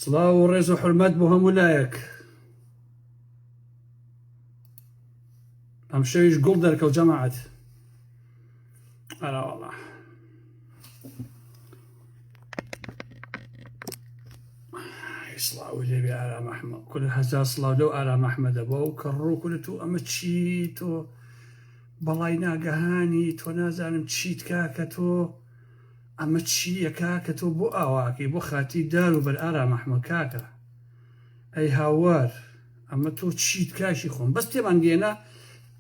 سڵاو و ڕێز و حرمەت بۆ هەموو لایەک ئەم شەویش گوڵ دەرکەوت جەماعەت ئەراوەڵە سڵاو لێبێ ئارامەحمە کول هەزار سڵاو لەو ئارامەحمە دەبە و کە ڕووکرت و ئەمە چی تۆ بەڵای ناگەهانی تۆ نازانم چیت کاکە تۆ ئەمە چی یە کاکە تۆ بۆ ئاوا ئەکەی بۆ خاتی دار و بەر ئارام ئەحمە کاکە ئەی هاوار ئەمە تۆ چیت کاکی خۆم بەس تێمان گێنە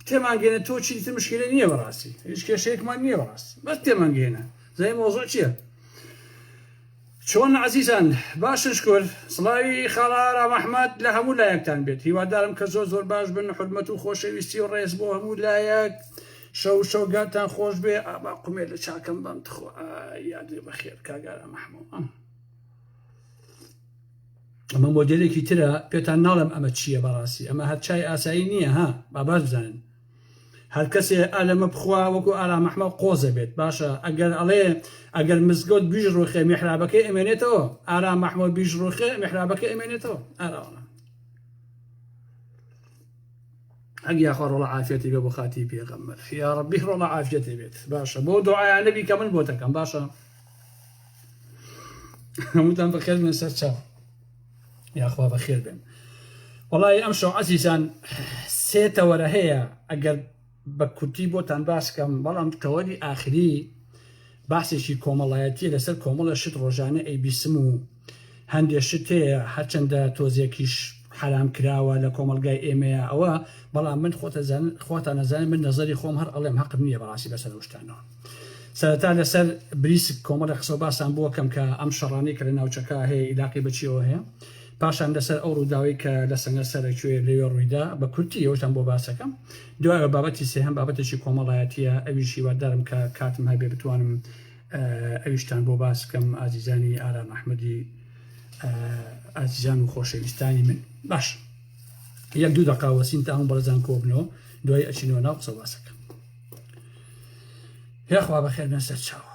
تێمان گێنە تۆ چی تر مشکلە نییە بەڕاستی هیچ کێشەیەکمان نییە بەڕاست بەس تێمان گێنە زای مۆزۆ چییە چۆن عزیزان باشن شکر سڵاوی خاڵە ئارام ئەحمد لە هەموو لایەکتان بێت هیوادارم کە زۆر زۆر باش بن حرمەت و خۆشەویستی و ڕێز بۆ هەموو لایەک شەو شەو گاتان خۆش بێ ئابا قومێ لە چاکەم بەم تخوا یادێ بەخێر کاگارە مەحموو ئەمە مۆدلێکی ترە پێتان ناڵم ئەمە چییە بەڕاستی ئەمە هەر چای ئاسایی نییە ها باباش بزانن هەر کەسێ ئالەمە بخوا وەکو ئارا مەحمە قۆزە بێت باشە ئەگەر ئەڵێ ئەگەر مزگەوت بیژ ڕوخێ میحرابەکەی ئەمێنێتەوە ئارا مەحمە بیژ ڕوخێ میحرابەکە ئەمێنێتەوە ئاراوە ئەک یاخوا ڕۆڵە عافیەتی بێ بۆ خاتی پێغەمبەر یا ڕەبی ڕۆڵە عافیەتی بێت باشە بۆ دعایا نەبی کە من بۆتەکەم باشە هەمووتان بەخێر بێن سەر چاو یاخوا بەخێر بێن وڵی ئەم شەعەسیسان سێتەوەرە هەیە ئەگەر بە کورتی بۆتان باس کەم بەڵام تەوەری ئاخری باسێکی کۆمەڵایەتیە لەسەر کۆمەڵە شت ڕۆژانە ئەیبیسم و هەندێ شت هەیە هەرچەندە تۆزێکیش حرام کراوە لە کۆمەلگای ئێمەیە ئەوە بەڵام من خۆتەزان خۆتان نەزانێت من نەزەری خۆم هەر ئەڵێم هەقم نییە بەڕاستی بەسەر ئەوشتانەوە سەرەتا لەسەر بریسک کۆمەڵی قسە و باسان بۆکەم کە ئەم شەڕانەی کە لە ناوچەکە هەیە ئیلاقی بەچیەوە هەیە پاشان لەسەر ئەو ڕووداوەی کە لە سەنگەر سەرەکوێ لەوێ ڕوویدا بە کورتی ئەوەشتان بۆ باسەکەم دوایەوە بابەتی سێهەم بابەتێکی کۆمەڵایەتیە ئەویش هیوادارم کە کاتم هەبێ بتوانم ئەویشتان بۆ باس بکەم ئازیزانی ئارام ئەحمەدی ئازیزان و خۆشەویستانی من باش یەک دوو دەقا وەسین تا هەم بەرزان کۆبنەوە دوای ئەچینەوە ناو قسە باسەکەم یاخوا بەخێر نەسەر چاوە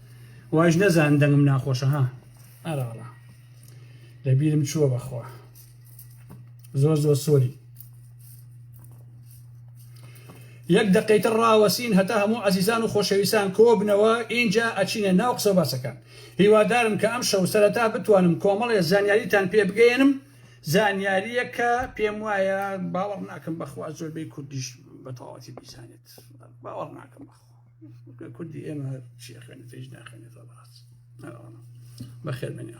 وایش نەزان دەنگم ناخۆشە ها ئەراڵە لە بیرم چووە بەخوا زۆر زۆر سۆری یەک دقیتر ڕاوەسین هەتا هەموو عزیزان و خۆشەویستان کۆبنەوە ئینجا ئەچینە ناو قسە باسەکان هیوادارم کە ئەم شەو سەرەتا بتوانم کۆمەڵێ زانیاریتان پێ بگەێنم زانیاریە کە پێم وایە باوەڕ ناکەم بەخوا زۆربەی کوردیش بەتەواتی بیزانێت باوەڕ ناکەم بەخوا کوردی ئێمە چی خوێنێت هیچ ناخێنێت بەڕاست بەخێر بێنێ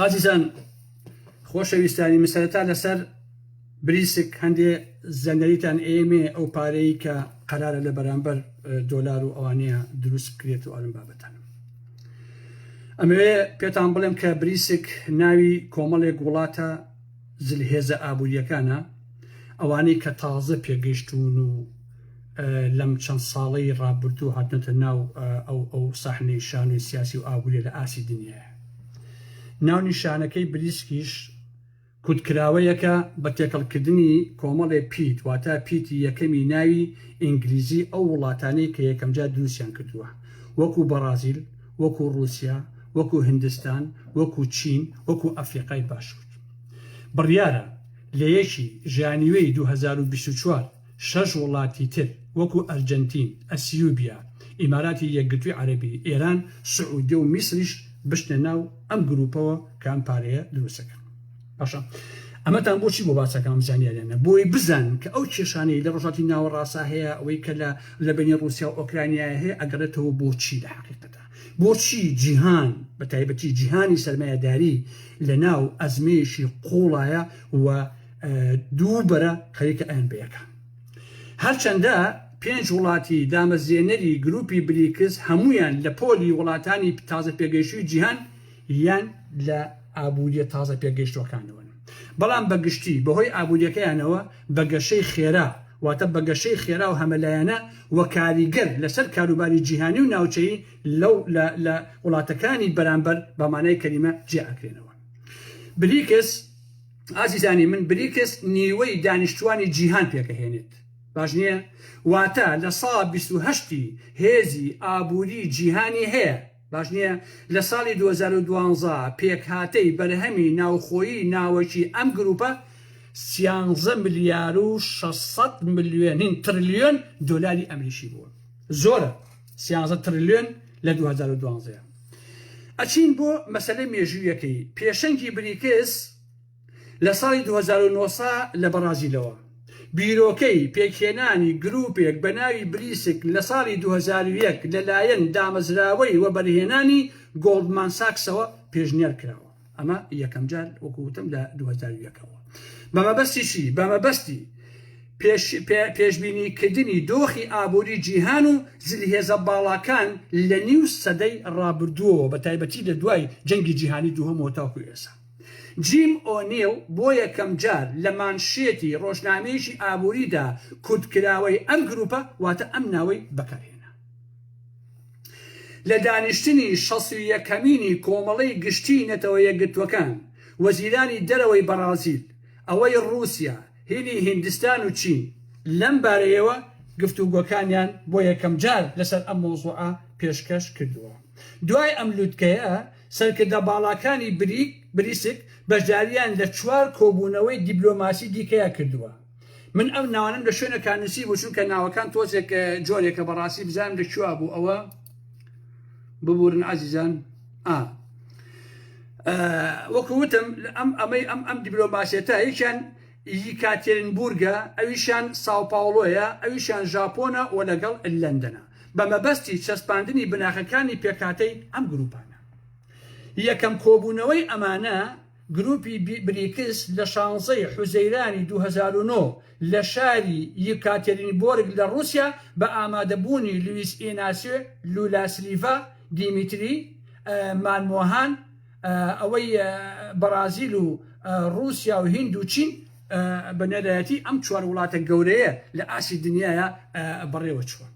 ئازیزان خۆشەویستانی مسەرەتا لەسەر بریسک هەندێ زەنەریتان ئێمێ ئەو پارەی کە قەرارە لە بەرامبەر دۆلار و ئەوانەیە دروست بکرێت و ئەرم بابەتان ئەمەوێ پێتان بڵێم کە بریسک ناوی کۆمەڵێک وڵاتە زلهێزە ئابوورییەکانە، ئەوانەی کە تازە پێگەیشتوون و لەم چەند ساڵەی ڕابردوو هاتنەتە ناو ئەو ئەو ساحنەی شانۆی سیاسی و ئابووریە لە ئاستی دنیایە. ناونیشانەکەی بریسکیش کوتکراوەیەکە بە تێکەڵکردنی کۆمەڵێ پیت واتە پیتی یەکەمی ناوی ئینگلیزی ئەو وڵاتانەی کە یەکەمجار دروستیان کردووە وەکو بەڕازیل، وەکو ڕوسیا، وەکو هندستان، وەکو چین، وەکو ئەفریقای باشور. بڕیارە لە یەکی ژانیوێی دوو هەزار و بیست و چوار شەش وڵاتی تر وەکو ئەرجەنتین، ئەسیوبیا، ئیماراتی یەکگرتووی عەرەبی، ئێران، سعودیە و میسریش بچنە ناو ئەم گروپەوە کە ئەم پارەیە دروستەکەن. باشە ئەمەتان بۆچی بۆ باسەکەم زانیاریانە بۆی بزان کە ئەو کێشانەی لە ڕژاتی ناوەڕاستە هەیە ئەوەی کە لە لە بینی رووسیا و ئۆکرانیای هەیە ئەگەڕێتەوە بۆچی لە حقیقەتە بۆچی جیهان بە تایبەتی جیهانی سەرمایەداری لە ناو ئەزمەیەشی قوڵایە و دوو بەرە خەریکە ئەیان بەیەکە هەرچەندە پێنج وڵاتی دامەزێنەری گروپی بریکس هەمویان لە پۆلی وڵاتانی تازە پێگەیشتوی جیهان یان لە ئابووریە تازە پێگەیشتووەکانەوەن، بەڵام بە گشتی بەهۆی ئابووریەکەیانەوە بە گەشەی خێرا، واتە بە گەشەی خێرا و هەمەلایەنە و کاریگەر لەسەر کاروباری جیهانی و ناوچەیی لەو لە لە وڵاتەکانی بەرامبەر بە مانای کەلیمە جیا ئەکرێنەوە. بریکس، ئازیزانی من بریکس نیوەی دانیشتووانی جیهان پێکەهێنێت باش نییە؟ واتە لە سا بیست و هەشت ی هێزی ئابووری جیهانی هەیە، باش نییە، لە ساڵی دوو هەزار و دوازدە پێکهاتەی بەرهەمی ناوخۆیی ناوەکی ئەم گرووپە سیانزە ملیار و شەش سەد ملیۆن نین ترلیۆن دۆلاری ئەمریکی بووە. زۆرە سیانزە ترلیۆن لە دوو هەزار و دوازدە. ئەچین بۆ مەسەلەی مێژوویەکەی پێشەنگی بریکس، لە ساڵی دوو هەزار و نۆ سا لە بەڕازیلەوە بیرۆکەی پێکهێنانی گرووپێک بە ناوی بریسک لە ساڵی دوو هەزار و یەک لە لایەن دامەزراوەی وەبەرهێنانی گۆڵدمان ساکسەوە پێشنیار کراوە ئەمە یەکەم جار وەکو وتم لە دوو هەزار و یەک ەوە بە مەبەستی چی بە مەبەستی پێش پێ پێشبینی کردنی دۆخی ئابووری جیهان و زلهێزە باڵاکان لە نیو سەدەی ڕابردووەوە بە تایبەتی لە دوای جەنگی جیهانی دووهەمەوە تاکو ئێسا. جیم ئۆنیڵ بۆ یەکەمجار لە مانشێتی ڕۆژنامەیەکی ئابووریدا کورتکراوەی ئەم گرووپە واتە ئەم ناوەی بەکارهێنا. لە دانیشتنی شەست و یەکەمینی کۆمەڵەی گشتیی نەتەوە یەکگرتووەکان، وەزیرانی دەرەوەی بەڕازیل، ئەوەی ڕووسیا، هیلی هیندستان و چین، لەم بارەیەوە گفتوگۆکانیان بۆ یەکەمجار لەسەر ئەم مەوزوعە پێشکەش کردووە. دوای ئەم لووتکەیە، سەرکردە باڵاکانی بریک، بریسک، بەشدارییان لە چوار کۆبوونەوەی دیبلۆماسی دیکەیا کردووە. من ئەم ناوانەم لە شوێنێکا نووسیبوو، چونکە ناوەکان تۆزێک جۆرێکە بەڕاستی بزانم لە کوێوا بوو ئەوە، ببوورن ئازیزان. ئا. وەکو وتم ئەم ئەمەی ئەم ئەم دیبلۆماسیەتە یەکیان یکاتێرنبوورگە، ئەویشیان ساوپاوڵۆیە، ئەویشیان ژاپۆنە و لەگەڵ لەندەنە. بە مەبەستی چەسپاندنی بناغەکانی پێکهاتەی ئەم گرووپانە. یەکەم کۆبوونەوەی ئەمانە گرووپی بریکس لە شانزە ی حوزەیرانی دوو هەزار و نۆ لە شاری یکاتێرینبۆرگ لە ڕووسیا بە ئامادەبوونی لویس ئیناسیۆ لولا سلیڤا، دیمیتری مانمۆهان، ئەوەی بەڕازیل و ڕووسیا و هیند و چین بە نوێنەرایەتی ئەم چوار وڵاتە گەورەیە لە ئاستی دنیاە بەڕێوە چووە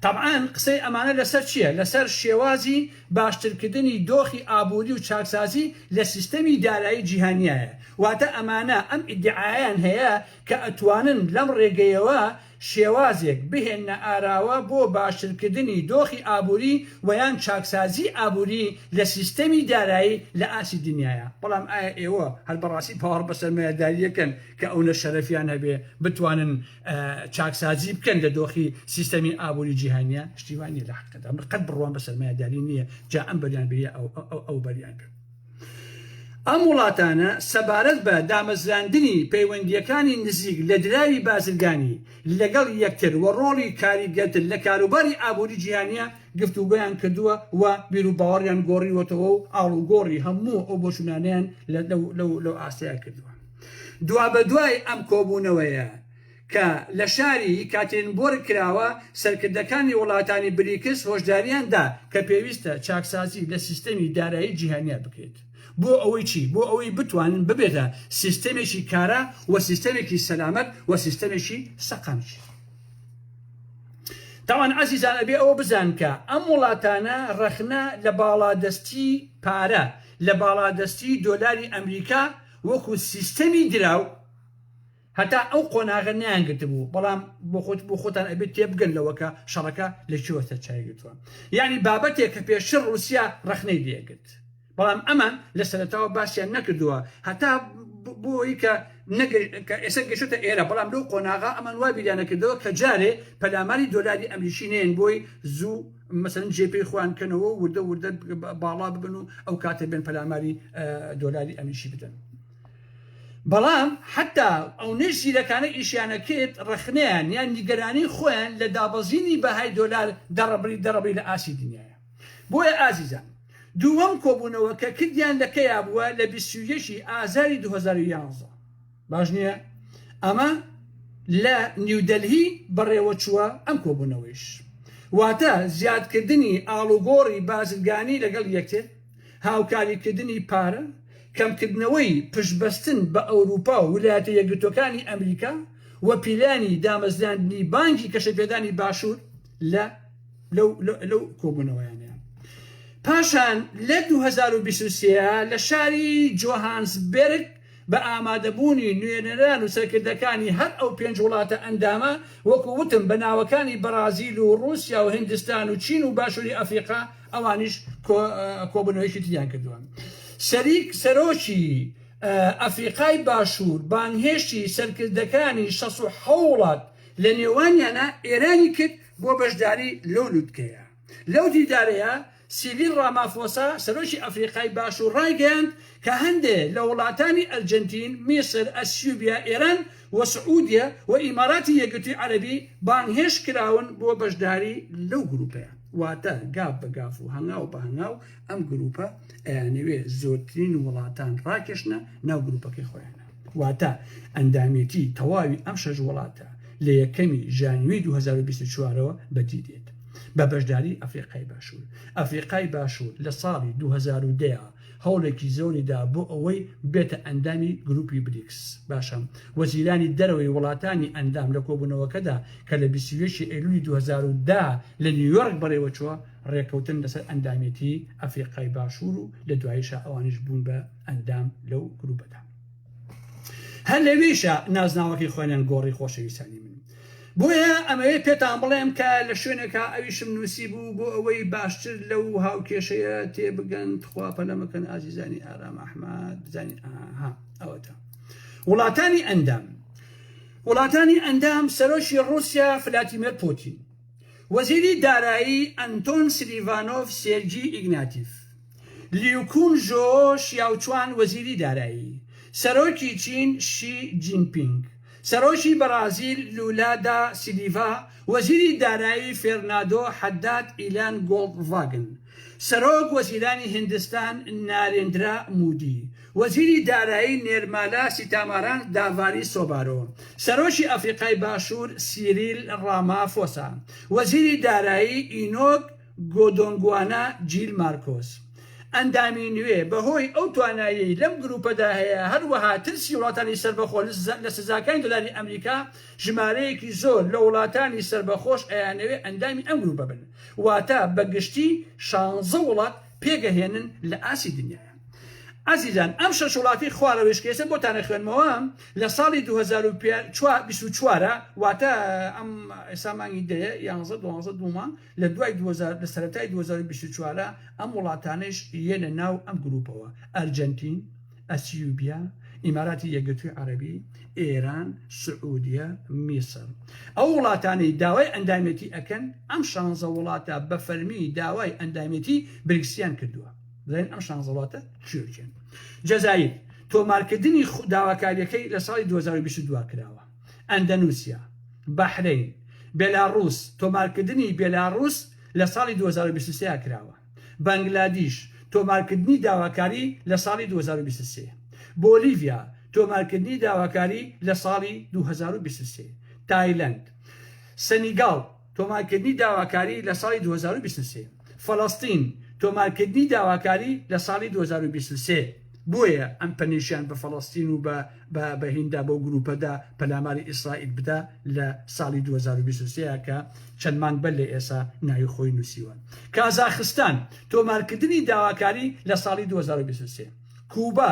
تەبعاان قسەی ئەمانە لەسەر چییە لەسەر شێوازی باشترکردنی دۆخی ئابووری و چاکسازی لە سیستەمی دارایی جیهانیایە واتە ئەمانە ئەم ئیدعایان هەیە کە ئەتوانن لەم ڕێگەیەوە شێوازێک بهێننە ئاراوە بۆ باشترکردنی دۆخی ئابووری و یان چاکسازیی ئابووری لە سیستەمی دارایی لە ئاستی دنیایا، بەڵام ئایا ئێوە هەر بەڕاستی باوەڕ بە سەرمایەدارییەکەن کە ئەونە شەرەفیان هەبێ بتوانن چاکسازی بکەن لە دۆخی سیستەمی ئابووری جیهانیا؟ شتی وا نییە لە حەقیقەتدا، من قەت بڕوام بە سەرمایەداری نییە، جا ئەم بەریان بێ یا ئەو بەریان بێ. ئەم وڵاتانە سەبارەت بە دامەزراندنی پەیوەندییەکانی نزیک لە دراوی بازرگانی لەگەڵ یەکتر و ڕۆڵی کاریگەرتر لە کاروباری ئابووری جیهانییە گفتوگۆیان کردووە و بیروباوەڕیان گۆڕیوەتەوە و ئاڵوگۆڕی هەموو ئەو بۆچوونانەیان لەو ئاستەیە کردووە. دوابەدوای ئەم کۆبوونەوەیە، کە لە شاری یکاتێرینبۆرگ کراوە، سەرکردەکانی وڵاتانی بریکس هۆشدارییان دا کە پێویستە چاکسازی لە سیستەمی دارایی جیهانیا بکرێت. بۆ ئەوەی چی؟ بۆ ئەوەی بتوانن ببێتە سیستەمێکی کارا و سیستەمێکی سەلامەت و سیستەمێکی سەقامگیر. تاوان ئازیزان ئەبێ ئەوە بزانن کە ئەم وڵاتانە ڕەخنە لە باڵادەستی پارە، لە باڵادەستی دۆلاری ئەمریکا وەکو سیستەمی دراو، هەتا ئەو قۆناغە نەیانگرتبوو، بەڵام بۆ خۆت بۆ خۆتان ئەبێ تێبگەن لەوە کە شەڕەکە لە کوێوە سەرچاوی گرتووە. یانی بابەتێک کە پێشتر ڕووسیا ڕەخنەی لێ ئەگرت، بەڵام ئەمان لە سەرەتاوە باسیان نەکردووە هەتا بۆ ئەوەی کە کە ئێستا گەشتووەتە ئێرە، بەڵام لەو قۆناغە ئەمان وا بیریان نەکردەوە کە جارێ پەلاماری دۆلاری ئەمریکی نێن بۆی زوو مەسەلەن جێ پێی خۆیان بکەنەوە و وردە وردە باڵا ببن و ئەو کاتە بێن پەلاماری دۆلاری ئەمریکی بدەن. بەڵام حەتا ئەونەی زیرەکانە ئیشیانەکرد ڕەخنەیان یان نیگەرانی خۆیان لە دابەزینی بەهای دۆلار دەڕبری دەڕبری لە ئاستی دنیایە بۆیە ئازیزان دووەم کۆبونەوە کە کردیان لە کەیا بووە لە بیست و یەک ی ئازاری دوو هەزار و یازدە باش نییە ئەمە لە نیودەلهی بەڕێوە چووە ئەم کۆبونەوەیش واتە زیادکردنی ئاڵوگۆڕی بازرگانی لەگەڵ یەکێ. هاوکاریکردنی پارە، کەمکردنەوەی پشتبەستن بە ئەوروپا و ولایەتە یەکگرتووەکانی ئەمریکا و پیلانی دامەزراندنی بانکی گەشەپێدانی باشوور لە لەو کۆبوونەوەیانە. پاشان لە دوو هەزار و بیست و سێ لە شاری جۆهانسبێرگ بە ئامادەبوونی نوێنەران و سەرکردەکانی هەر ئەو پێنج وڵاتە ئەندامە، وەکو وتم بە ناوەکانی بەڕازیل و ڕووسیا و هیندستان و چین و باشووری ئەفریقا ئەوانیش کۆبونەوەیەکی تریان کردووە شەریک سەرۆکی ئەفریقای باشوور بانهێشتی سەرکردەکانی شەس و حەوڵات لە نێوانیانە ئێرانی کرد بۆ بەشداری لەو لوتکەیە لەو دیدارەیە سیڤیل ڕامافۆسا سەرۆکی ئەفریقای باشوور ڕایگەیاند کە هەندێ لە وڵاتانی ئەرجەنتین میسر ئەسیوبیا ئێران و سعودیە و ئیماراتی یەکگرتووی عەرەبی بانگهێشت کراون بۆ بەشداری لەو گروپەیە، واتە گاف بە گاف و هەنگاو بە هەنگاو ئەم گروپە ئەیانەوێ زۆرترین وڵاتان ڕاکێشنە ناو گروپەکەی خۆیانا، واتە ئەندامێتی تەواوی ئەم شەش وڵاتە لە یەکەمی ژانویەی دوو هەزار و بیست و چوار ەوە بەدی دێت بە بەشداری ئەفریقای باشوور ئەفریقای باشوور لە ساڵی دوو هەزار و دە هەوڵێکی زۆری دا بۆ ئەوەی ببێتە ئەندامی گرووپی بریکس. باشە وەزیرانی دەرەوەی وڵاتانی ئەندام لە کۆبوونەوەکەدا کە لە بیست و یەک ی ئەیلوولی دوو هەزار و دە لە نیویۆرک بەڕێوە چووە، ڕێککەوتن لەسەر ئەندامێتیی ئەفریقای باشوور و لە دواییشا ئەوانیش بوون بە ئەندام لەو گرووپەدا. هەر لەوێشە نازناوەکەی خۆێنن گۆڕی خۆشەویستانی من بۆیە ئەمەوێ پێتان بڵێم کە لە شوێنێکا ئەویشم نووسی بوو بۆ ئەوەی باشتر لەو هاوکێشەیە تێبگەن تخوا پەلەمەکەن ئازیزانی ئارام ئەحمد بزانین ئاها ئەوەتە وڵاتانی ئەندام وڵاتانی ئەندام سەرۆکی ڕوسیا فلاتیمەر پۆتین وەزیری دارایی ئەنتۆن سلیڤانۆف سێرگی ئیگناتیف لیوکون ژۆ شیاوچوان وەزیری دارایی، سەرۆکی چین شی جینپینگ، سەرۆکی بەڕازیل لولا دا سیلیڤا، وەزیری دارایی فێرنادۆ حەداد ئیلان گۆڵدڤاگن، سەرۆک وەزیرانی هیندستان نارێندرا مودی، وەزیری دارایی نێرمالا سیتاماران داڤاری سۆبارۆ، سەرۆکی ئەفریقای باشوور سیریل ڕامافۆسا، وەزیری دارایی ئینۆک گۆدۆنگوانا جیل مارکۆس، ئەندامی نوێ، بەهۆی ئەو توانایەی لەم گرووپەدا هەیە، هەروەها ترسی وڵاتانی سەربەخۆ لە سزاکانی دۆلاری ئەمریکا، ژمارەیەکی زۆر لە وڵاتانی سەربەخۆش ئەیانەوێت ئەندامی ئەم گرووپە بن، واتە بە گشتی شانزە وڵات پێگەهێنن لە ئاستی دنیادا. ئازیزان، ئەم شەش وڵاتی خوارەوەیش کە ئێستا بۆتان ئەخوێنمەوە، لە ساڵی دوو هەزار و بیست و چوار، واتە ئەم ئێستا مانگی دەیە، یانزە، دوانزە، دوو مانگ، لە دوای دوو هەزار لە سەرەتای دوو هەزار و بیست و چوار ئەم وڵاتانەیش یەنە ناو ئەم گرووپەوە، ئەرجەنتین، ئەسیوبیا، ئیماراتی یەکگرتووی عەرەبی، ئێران، سعودیە، میسر. ئەو وڵاتانەی داوای ئەندامێتی ئەکەن، ئەم شانزە وڵاتە بە فەرمی داوای ئەندامێتی بریکسیان کردووە. بزانین ئەم شانزە وڵاتە کێ و کێن. جەزائیر، تۆمارکردنی داواکارییەکەی لە ساڵی دوو هەزار و بیست و دو کراوە. ئەندەنوسیا، بەحرەین، بێلاڕووس، تۆمارکردنی بێلاڕووس لە ساڵی دوو هەزار و بیست و سێ کراوە، بەنگلادیش، تۆمارکردنی داواکاری لە ساڵی دوو هەزار و بیست و سێ، بۆلیڤیا، تۆمارکردنی داواکاری لە ساڵی دوو هەزار و بیست و سێ، تایلەند، سەنیگاڵ، تۆمارکردنی داواکاری لە ساڵی دوو هەزار و بیست و سێ فەلەستین تۆمارکردنی داواکاری لە ساڵی دوو هەزار و بیست و سێ بۆیە ئەم پەنیشیان بە فەلەستین و بە بە بە هیندا بەو گرووپەدا پەلاماری ئیسرائیل بدا لە ساڵی دوو هەزار و بیست و سێ کە چەند مانگ بەر لە ئێسا ناوی خۆی نووسیوە کازاخستان تۆمارکردنی داواکاری لە ساڵی دوو هەزار و بیست و سێ کووبا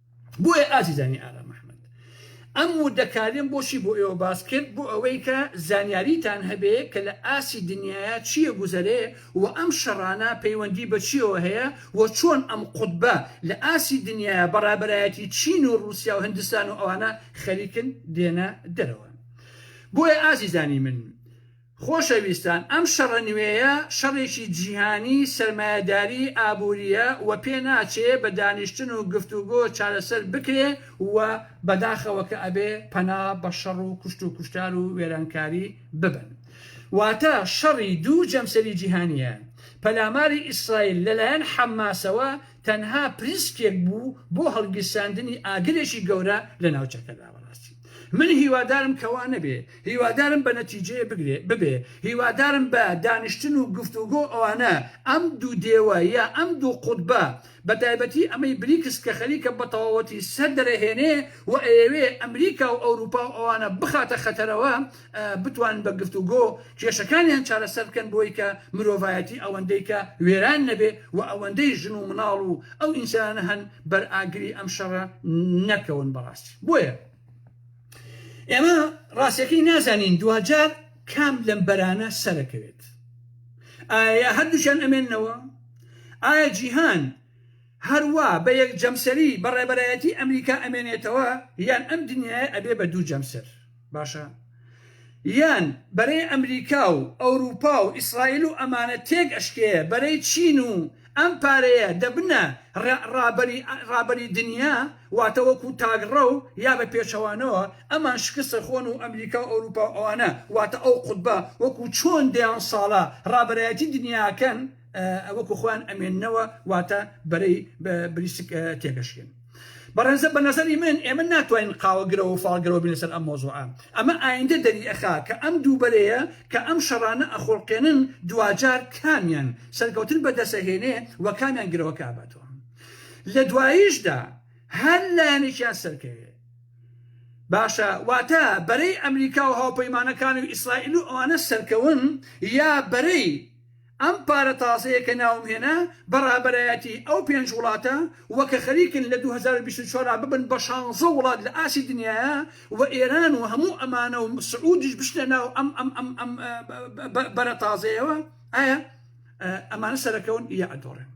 بۆیە ئازیزانی ئارام ئەحمەد ئەم وردە کاریم بۆچی بۆ ئێوە باس کرد بۆ ئەوەی کە زانیاریتان هەبێ کە لە ئاستی دنیایا چیە گوزەرێ و ئەم شەڕانە پەیوەندی بە چیەوە هەیە و چۆن ئەم قوتبە لە ئاستی دنیایا بە ڕابەرایەتی چین و ڕوسیا و هندستان و ئەوانە خەریکن دێنە دەرەوە بۆیە ئازیزانی من خۆشەویستان ئەم شەڕە نوێیە شەڕێکی جیهانی سەرمایەداری ئابوریە و پێ ناچێ بە دانیشتن و گفتوگۆ چارەسەر بکرێ و بەداخەوە کە ئەبێ پەنا بە شەڕ و کوشت و کوشتار و وێرانکاری ببەن واتە شەڕی دوو جەمسەری جیهانیە پەلاماری ئیسرائیل لە لایەن حەمماسەوە تەنها پریسکێک بوو بۆ هەڵگیرساندنی ئاگرێکی گەورە لە ناوچەکەدا. من هیوادارم کە وا نەبێ، هیوادارم بە نەتیجەیە بگرێ ببێ، هیوادارم بە دانیشتن و گفتوگۆ ئەوانە ئەم دوو دێوە یا ئەم دوو قوتبە بە تایبەتی ئەمەی بریکس کە خەریکە بە تەواوەتی سەر دەرەهێنێ و ئەیەوێ ئەمریکا و ئەوروپا و ئەوانە بخاتە خەتەرەوە، بتوانن بە گفتوگۆ کێشەکانیان چارەسەر بکەن بۆی کە مرۆڤایەتی ئەوەندەی کە وێران نەبێ و ئەوەندەی ژن و مناڵ و ئەو ئینسانانە هەن بەر ئاگری ئەم شەڕە نەکەون بەڕاستی بۆیە ئێمە ڕاستەکەی نازانین دواجار کام لەم بەرانە سەرەکەوێت ئایا هەردووشیان ئەمێنەوە ئایا جیهان هەروە بە یەک جەمسەری بەڕێبەرایەتی ئەمریکا ئەمێنێتەوە یان ئەم دنیاە ئەبێ بە دوو جەمسەر باشە یان بەرەی ئەمریکا و ئەوروپا و ئیسرائیل و ئەمانە تێک ئەشکێ بەرەی چین و ئەم پارەیە دەبنە ڕابەری دنیا واتە وەکو تاگڕەو یا بە پێچەوانەوە ئەمان شکست ئەخۆن و ئەمریکا و ئەوروپا و ئەوانە واتە ئەو قوتبە وەکو چۆن دەیان ساڵە ڕابەرایەتی دنیا ئەکەن ئەوەکو خۆیان ئەمێننەوە واتە بەرەی بریسک تێگەشکێن بەڕێزە بە نظری من ئێمە ناتوانین قاوەگرەوە و فاڵگرەوە بین لەسەر ئەم مۆزوعە ئەمە ئایندە دەری ئەخا کە ئەم دووبەرەیە کە ئەم شەڕانە ئەخۆڵقێنن دواجار کامیان سەرکەوتن بەدەسەهێنێ و کامیان گرەوە کاباتەوە لە دواییشدا هەر لایەنێکیان سەرکەوێ باشە واتە بەرەی ئەمریکا و هاوپەیمانەکان و ئیسرائیل و ئەوانە سەرکەون یا بەرەی ئەم پارە تازەیە کە ناوم هێنا بە ڕابەرایەتی ئەو پێنج وڵاتە وە کە خەریکن لە دوو هەزار و بیست و چوار ببن بە شانزە وڵات لە ئاستی دنیایا وە ئێران و هەموو ئەمانە و سعودیش بچنە ناو ئەم ئەم ئەم ئەم بەرە تازەیەوە ئایا ئەمانە سەرەکەون یا ئەدۆڕێن؟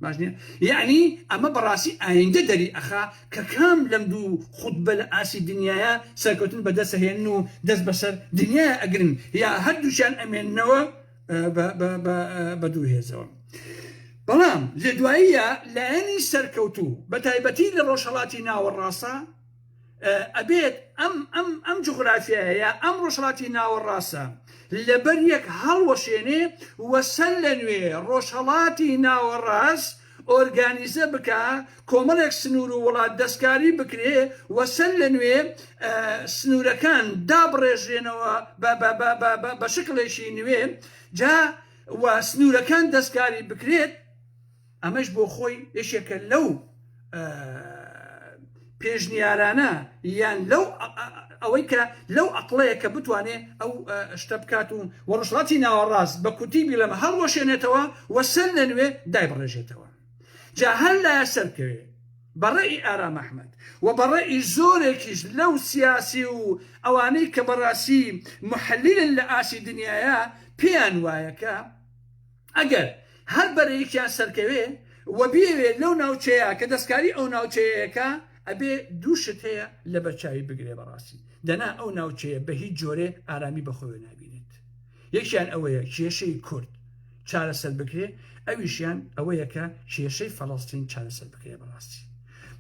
باش نیە یەعنی ئەمە بەڕاستی ئایندە دەری ئەخا کە کام لەم دوو خوتبە لە ئاستی دنیایە سەرکەوتن بە دەست ئەهێنن و دەست بەسەر دنیایە ئەگرن یا هەردووکیان ئەمێننەوە بە دوو هێزەوە بەڵام لە دواییە لایەنی سەرکەوتوو بە تایبەتی لە ڕۆژهەڵاتی ناوەڕاستە ئەبێت ئەم ئەم ئەم جغرافیایە ئەم ڕۆژهڵاتی ناوەڕاستە لەبەر یەک هەڵوەشێنێ وەسەر لە نوێ ڕۆژهڵاتی ناوەڕاست ئۆرگانیزە بکە کۆمەڵێک سنوور و وڵات دەستکاری بکرێ وەسەر لە نوێ سنوورەکان دابڕێژرێنەوە بە شکلێکی نوێ جا و سنوورەکان دەستکاری بکرێت ئەمەش بۆ خۆی یەکێکە لەو پێشنیارانە یان لەو ئەوەی کە لەو ئەقلەیە کە بتوانێ ئەو شتە بکات و وەڕسڵاتی ناوەڕاست بە کوتی بیلەمە هەڵوەشێنێتەوە و سەر لە نوێ دای بڕێژێتەوە جا هەر لایە سەرکەوێ بەڕێی ئارام ئەحمد و بەڕێی زۆرێکیش لەو سیاسی و ئەوانەی کە بەڕاستی محلیلن لە ئاسی دنیاە پێیان وایەکە ئەگەر هەر بەرەیەکیان سەرکەوێ و بیەوێ لەو ناوچەیە کە دەستکاری ئەو ناوچەیەیە کا، ئەبێ دوو شت هەیە لەبەر چاوی بگرێ بەڕاستی دەنا ئەو ناوچەیە بە هیچ جۆرێ ئارامی بە خۆیەوە نابینێت. یەکیان ئەوەیە کێشەی کورد چارەسەر بکرێ، ئەویشیان ئەوەیە کە کێشەی فەڵەستین چارەسەر بکرێ بەڕاستی.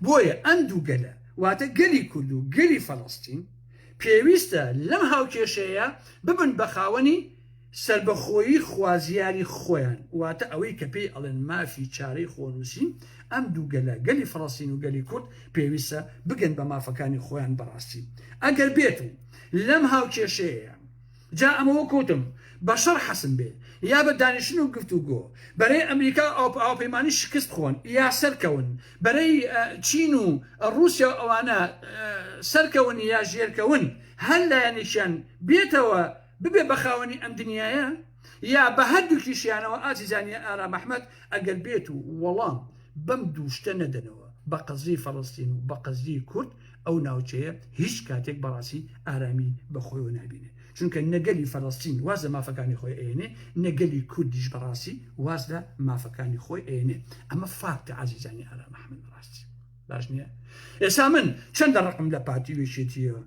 بۆیە ئەم دوو گەلە واتە گەلی کورد و گەلی فەڵەستین پێویستە لەم هاوکێشەیە ببن بە خاوەنی سەربەخۆیی خوازیاری خۆیان، واتە ئەوەی کە پێی ئەڵێن مافی چارەی خۆنووسین، ئەم دوو گەلە، گەلی فەڵەستین و گەلی کورد، پێویستە بگەن بە مافەکانی خۆیان بە ڕاستی. ئەگەر بێت و لەم هاوکێشەیەیە، جا ئەمە وەکو وتم، بەشەڕ حەسم بێ، یا بە دانیشتن و گفتوگۆ، بەرەی ئەمریکا و هاوپەیمانانی شکست خۆن، یا سەرکەون، بەرەی چین و ڕووسیا و ئەوانە، سەرکەون یا ژێرکەون، هەر لایەنێکیان بێتەوە، ببێ بە خاوەنی ئەم دنیایە یا بە هەردووکیشیانەوە ئاجی جانیە ئارام ئەحمەد ئەگەر بێت و وەڵام بەم دوو شتە نەدەنەوە بە قەزیەی فەڵەستین و بە قەزیەی کورد ئەو ناوچەیە هیچ کاتێک بەڕاستی ئارامی بە خۆیەوە نابینێ چونکە نە گەلی فەڵەستین واز لە مافەکانی خۆی ئەیەنێ نە گەلی کوردیش بەڕاستی واز لە مافەکانی خۆی ئەیەنێ ئەمە فاکتە ئازیزانی ئارام ئەحمەد ڕاستی باش نییە ئێسا من چەندە ڕقم لە پارتی وێشێتیەوە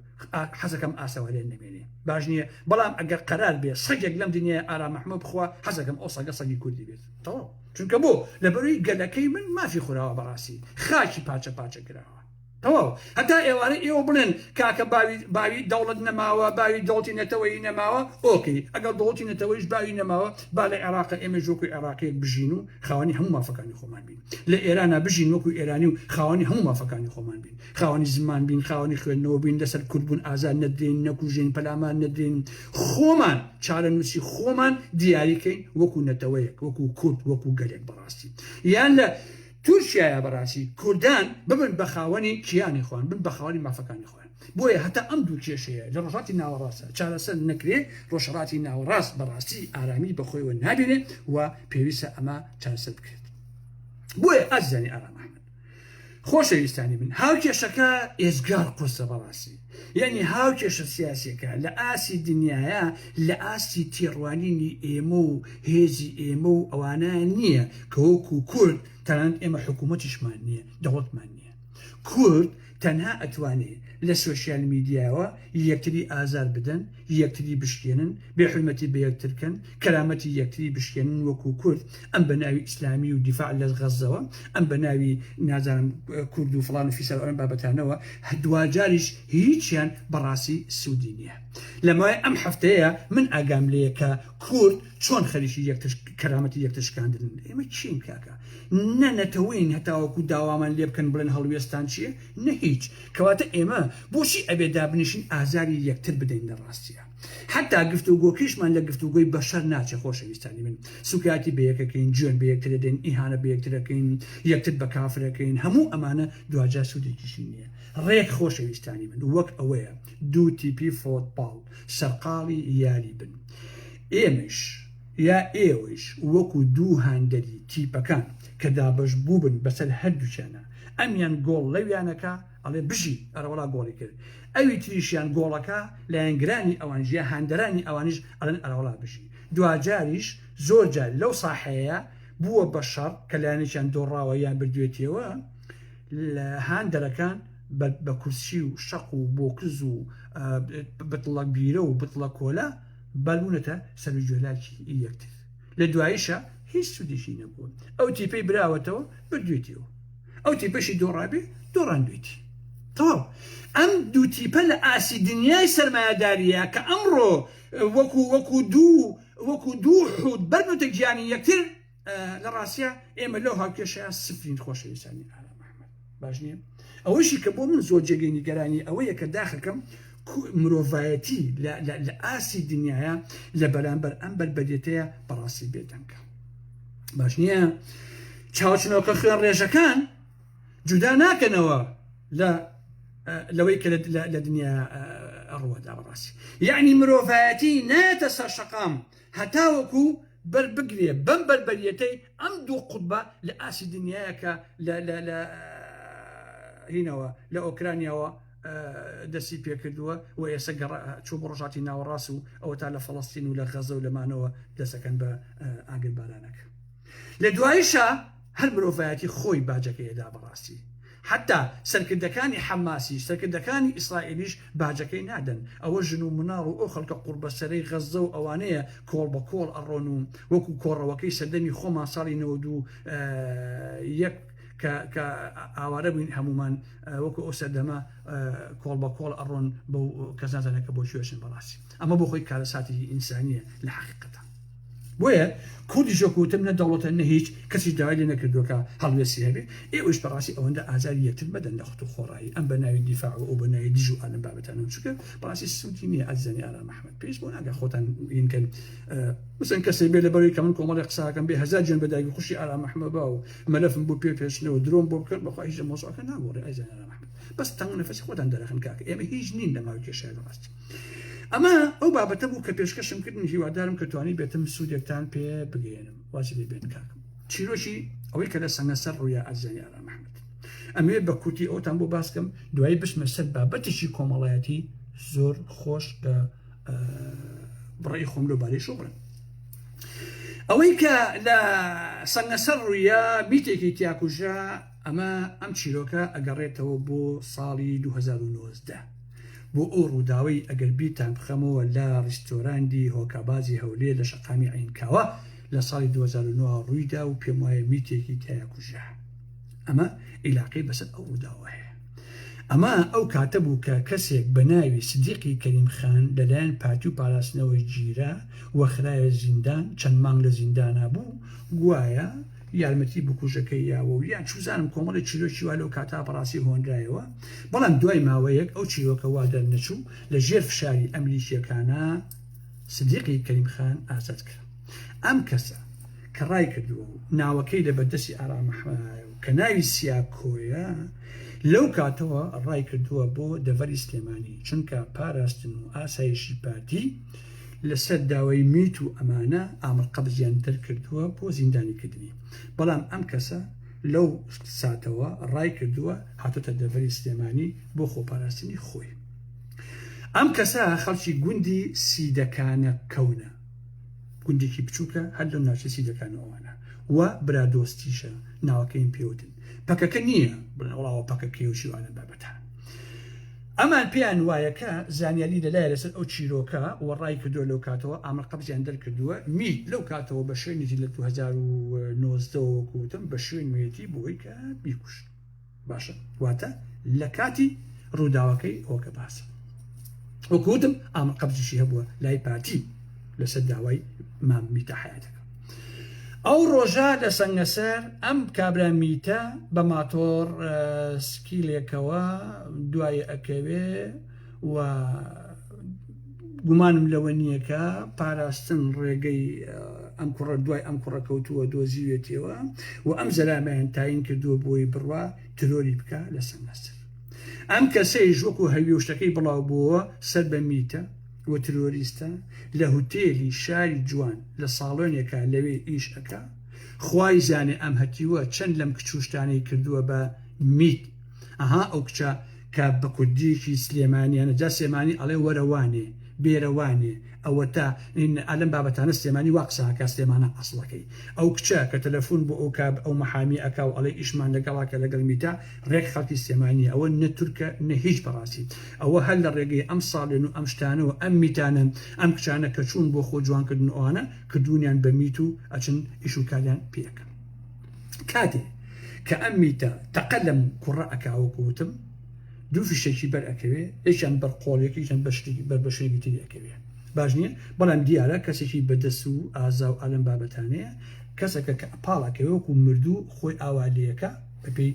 حەزەکەم ئاسەوارێن نمێنێ باش نییە بەڵام ئەگەر قەرار بێ سەگێک لەم دنیای ئارا مححمە بخوا حەزەکەم ئەو سەگە سەگی کوردی بێت تەواو چونکە بۆ لە بەروی گەلەکەی من مافی خوراوە بەڕاستی خاکی پاچە پاچە کراوە تەواو هەتا ئێوارە ئێوە بڵێن کاکە باوی باوی دەوڵەت نەماوە باوی دڵتی نەتەوەی نەماوە ئۆکی ئەگەڵ دڵتی نەتەوەیش باوی نەماوە با لە عێراق ئێمە ژۆکو عێراقیت بژین و خاوەنی هەموو مافەکانی خۆمان بین لە ئێرانا بژین وەکو ئێرانی و خاوەنی هەموو مافەکانی خۆمان بین خاوەنی زمان بین خاوەنی خوێندنەوە بین لەسەر کوردبوون ئازار نەدرین نەکوژین پەلامار نەدرین خۆمان چارە نووسی خۆمان دیاریکەین وەکو نەتەوەیەک وەکو کورد وەکو گەلێک بەڕاستی یان لە تورکیاە بەڕاستی کوردان ببن بە خاوەنی کیانی خۆن بن بە خاوەنی مافەکانی خۆ بۆیە هەتا ئەم دوو کێشەیە لە ڕۆژهەڵاتی ناوەڕاستدا چارەسەر نەکرێ، ڕۆژهەڵاتی ناوەڕاست بە ڕاستی ئارامی بە خۆیەوە نابینێ و پێویستە ئەمە چارەسەر بکرێت. بۆیە ئازیزانی ئارام ئەحمەد، خۆشەویستانی من، هاوکێشەکە ئێجگار قورسە بە ڕاستی، یانی هاوکێشە سیاسییەکە لە ئاستی دنیایە، لە ئاستی تێڕوانینی ئێمە و هێزی ئێمە و ئەوانە نییە کە وەکوو کورد، تەنانەت ئێمە حکوومەتیشمان نییە، دەوڵەتمان نییە. کورد تەنها ئەتوانێ لە سۆشیال میدیاوە یەکتری ئازار بدەن یەکتری بشکێنن بێ حورمەتی بە یەکتر کەن کەرامەتی یەکتری بشکێنن وەکو کورد ئەم بە ناوی ئیسلامی و دیفاع لە غەزەوە ئەم بە ناوی نازانم کورد و فڵان و فیسار ئەم بابەتانەوە دواجاریش هیچیان بەڕاستی سودی نیە لەمای ئەم هەفتەیە من ئاگام لێیە کە کورد چۆن خەریکی یەکتر کەرامەتی یەکتر شکاندن ئێمە چین کاکە نە نەتەوەین هەتاوەکو داوامان لێ بکەن بڵێن هەڵوێستان چیە نە هیچ کەواتە ئێمە بۆچی ئەبێ دابنیشین ئازاری یەکتر بدەین لە ڕاستیە حتا گفتوگۆکەیشمان لە گفتوگۆی بەشەر ناچێ خۆشەویستانی من سوکایەتی بەیەکەکەین جوێن بە یەکتر دەدەین ئیهانە بە یەکترەکەین یەکتر بە کافرەکەین هەموو ئەمانە دواجار سوودێکیشی نییە ڕێک خۆشەویستانی من وەک ئەوەیە دوو تیپی فۆتباڵ سەرقاڵی یاری بن ئێمەیش یا ئێوەیش وەکو دوو هاندەری تیپەکان کە دابەش بووبن بەسەر هەردووکیانا ئەمیان گۆڵ لەویانەکا ئەڵێ بژی ئەرەوەڵا گۆڵی کرد ئەوی تریشیان گۆڵەکا لایەنگرانی ئەوانیش یا هاندەرانی ئەوانیش ئەڵێن ئەرەوەڵا بژی دواجاریش زۆر جار لەو ساحەیە بووە بە شەڕ کە لایەنێکیان دۆڕاوە یان بردوێتیەوە لە هاندەرەکان بە بە کورسی و شەق و بۆکز و بتڵە بیرە و بتڵە کۆلا بالبوونەتە سەر و جۆلاکی یەکتر لە دواییشا هیچ سوودێکی نەبووە ئەو تیپەی براوەتەوە بردوێتیەوە ئەو تیپەشی دۆڕابێ دۆڕاندوێتی تەواو ئەم دوو تیپە لە ئاستی دنیای سەرمایەداریە کە ئەمڕۆ وەکو وەکو دوو وەکو دوو حوت بەرنوتە گیانی یەکتر لە ڕاستە ئێمە لەو هاوکێشەیە سفرین خۆشەویستانی ئارام ئەحمد باش نییە ئەوەیشی کە بۆ من زۆر جێگەی نیگەرانی ئەوەیە کە داخەکەم مرۆڤایەتی لە ئاسی دنیاە لە بەرامبەر ئەم بەربەدێتەیە بەڕاستی بێدەنگە باش نییە چاوچنەوەکە خوێن ڕێژەکان جودا ناکەنەوە لە لەوەی کە لە دنیا ڕوەدا بەڕاستی یعنی مرۆڤایەتی نایەتە سەر شەقام هەتاوەکو بەر بگرێ بەم بەربەریەتەی ئەم دوو قوتبە لە ئاسی دنیایە کە لە لە لە هینەوە لە ئۆکرانیاوە دەستی پێکردووە و ئێستا گەڕ چوو بە ڕژاتی ناوەڕاست و ئەوە تا لە فەڵستین و لە غەزە و لەمانەوە دەسەکەن بە ئاگر بارانەکە لە دوایشە هەر مرۆڤایەتی خۆی باجەکەیدا بەڕاستی حەتا سەرکردەکانی حەماسیش، سەرکردەکانی ئیسرائیلیش باجەکەی نادەن، ئەوە ژن و مناڵ و ئەو خەڵکە قوڕبەسەرەی غەززە و ئەوانەیە کۆڵ بە کۆڵ ئەڕۆن و وەکو کۆڕەوەکەی سەردەمی خۆمان ساڵی نەوەد و یەک کە کە ئاوارە بووین هەموومان وەکو ئەو سەردەمە کۆڵ بە کۆڵ ئەڕۆن بەو کەس نازانێت کە بۆ کوێ چن بەڕاستی ئەمە بۆ خۆی کارەساتی ئینسانیە لە حەقیقەتە. بۆیە کوردیش وەکو وتم نە دەوڵەتە نە هیچ کەسیش داوای لێ نەکردووە کە هەڵوێستی هەبێ ئێوەش بەڕاستی ئەوەندە ئازاری یەکتر مەدەن لە خت و خۆڕایی ئەم بە ناوی دیفاع و ئەو بە ناوی دژ و ئالەم بابەتانە و چونکە بەڕاستی سوودی نییە ئازیزانی ئارام ئەحمەد پێویست بۆ ناکە خۆتان وینکەن بزن کەسێ بێ لەبەروی کە من کۆمەڵی قساکەم بێ هەزار جوێن بە دایکی خوشی ئارام ئەحمەد با و مەلەفم بۆ پێ پێشنەوە درۆم بۆ بکەن بەخوا هیچ لە مۆزوعەکە ناگۆڕێ ئازیزانی ئارام ئەحمەد بەس تەنگ نەفەسی خۆتان دەرەخن کاکە ئێمە هیچ نین لە ماوەی کێشەیە ڕاست ئەمە ئەو بابەتە بوو کە پێشکەشم کردن هیوادارم کە توانی بێتم سوودێکتان پێ بگەێنم واسی لێ بێت کاکم چیرۆکی ئەوەی کە لە سەنگەسەر ڕوویا ئەزیانی ئارام محمد ئەمێ بە کورتی ئەوتان بۆ باسکەم دوایی بچمە سەر بابەتێکی کۆمەڵایەتی زۆر خۆش کە بڕی خۆم لۆ بارەی شو بڵێم ئەوەی کە لە سەنگەسەر ڕوویا میتێکی تیاکوژە ئەمە ئەم چیرۆکە ئەگەڕێتەوە بۆ ساڵی دوو هەزار و نۆزدە بۆ ئەو ڕووداوەی ئەگەر بیرتان بخەمەوە لە ڕیستۆراندی هۆکابازی هەولێر لە شەقامی عینکاوە لە ساڵی دوو هەزار و نۆ ڕوویدا و پێم وایە میتێکی تیا کوژرا ئەمە ئیلاقەی بەسەر ئەو ڕووداوە هەیە ئەمە ئەو کاتە بوو کە کەسێک بە ناوی سدیقی کەریم خان لەلایەن پارتی و پاراستنەوەی گیرا وەخرایە زیندان چەند مانگ لە زیندانا بوو گوایە یارمەتی بکوژەکەی یاوە و یان چوزانم کۆمەڵێ چیرۆکی وا لەو کاتە بەڕاستی هۆنرایەوە بەڵام دوای ماوەیەک ئەو چیرۆکە وا دەرنەچوو لە ژێر فشاری ئەمریکییەکانە سدیقی کەریم خان ئازاد کرا ئەم کەسە کە ڕای کردووە و ناوەکەی لە بەردەستی ئارامەحمایە و کە ناوی سیاکۆیە لەو کاتەوە ڕای کردووە بۆ دەڤەری سلێمانی چونکە پاراستن و ئاسایشی پارتی لەسەر داوای میت و ئەمانە ئامر قەبزیان دەرکردووە بۆ زیندانی کردنی بەڵام ئەم کەسە لەو ساتەوە ڕای کردووە هاتۆتە دەڤەری سلێمانی بۆ خۆپاراستنی خۆی ئەم کەسە خەڵکی گوندی سیدەکانە کەونە گوندێکی بچووکە هەر لەم ناوچە سیدەکانەوەوانە و برادۆستیشە ناوەکەیم پێوتن پەکەکە نییە بڵێ وڵاوە پەکەکەی و شیوانە بابەتان ئەمان پێیان وایە کە زانیاری لە لایە لەسەر ئەو چیرۆکە وە ڕای کردووە لەو کاتەوە ئامر قەبزیان دەرکردووە میت لەو کاتەوە بە شوێنێتی لە دوو هەزار و نۆزدە وە وەکو وتم بە شوێنوێتی بۆی کە بیکوشت باشە واتە لە کاتی ڕووداوەکەی ئەوکە باسە وەکو وتم ئامر قەبزیشی هەبووە لای پارتی لەسەر داوای مام میتە حیاتەکە ئەو ڕۆژە لە سەنگەسەر ئەم کابرا میتە بە ماتۆڕ سکیلێکەوە دوای ئەکەوێ و گومانم لەوە نییە کە پاراستن ڕێگەی ئەم کوڕە دوای ئەم کوڕە کەوتووە دۆزیوێتەوە و ئەم زەلامەیان تاین کردووە بۆی بڕوا ترۆری بکە لە سەنگەسەر ئەم کەسەیش وەکو هەویشتەکەی بڵاو بووە سەر بە میتە و ترۆریستە لە هوتێلی شاری جوان لە ساڵۆنێکا لەوێ ئیش ئەکا خوای زانێ ئەم هەتیوە چەند لەم کچ و شتانەی کردوە بە میت ئەها ئەو کچە کە بە کوردیەکی سلێمانیانە جا سلێمانی ئەڵێ وەرە وانێ بێرە وانێ ئەوەتا ئین ئا لەم بابەتانە سلێمانی وا قسە ئەکا سلێمانە ئەسڵەکەی ئەو کچە کە تەلەفون بۆ ئەو کا ئەو مەحامی ئەکا و ئەڵێ ئیشمان لەگەڵا کە لەگەڵ میتە ڕێک خەڵکی سلێمانی ئەوە نە تورکە نە هیچ بەڕاستی ئەوە هەر لە ڕێگەی ئەم ساڵێن و ئەم شتانە و ئەم میتانەن ئەم کچانە کە چوون بۆ خۆ جوان کردن ئەوانە کردوونیان بە میت و ئەچن ئیش و کاریان پێ ئەکەن کاتێ کە ئەم میتە تەقە لەم کوڕە ئەکا وەکو وتم دوو فیشەکی بەر ئەکەوێ یەکیان بەر قۆڵێکی یەکیان بە شتێکی بەر بە شتێکی تری ئەکەوێ باش نییە بەڵام دیارە کەسێکی بەدەست و ئازا و ئالەم بابەتانەیە کەسەکە کە پاڵەکەوێ وەکو مردوو خۆی ئاوا لەکە بەپێی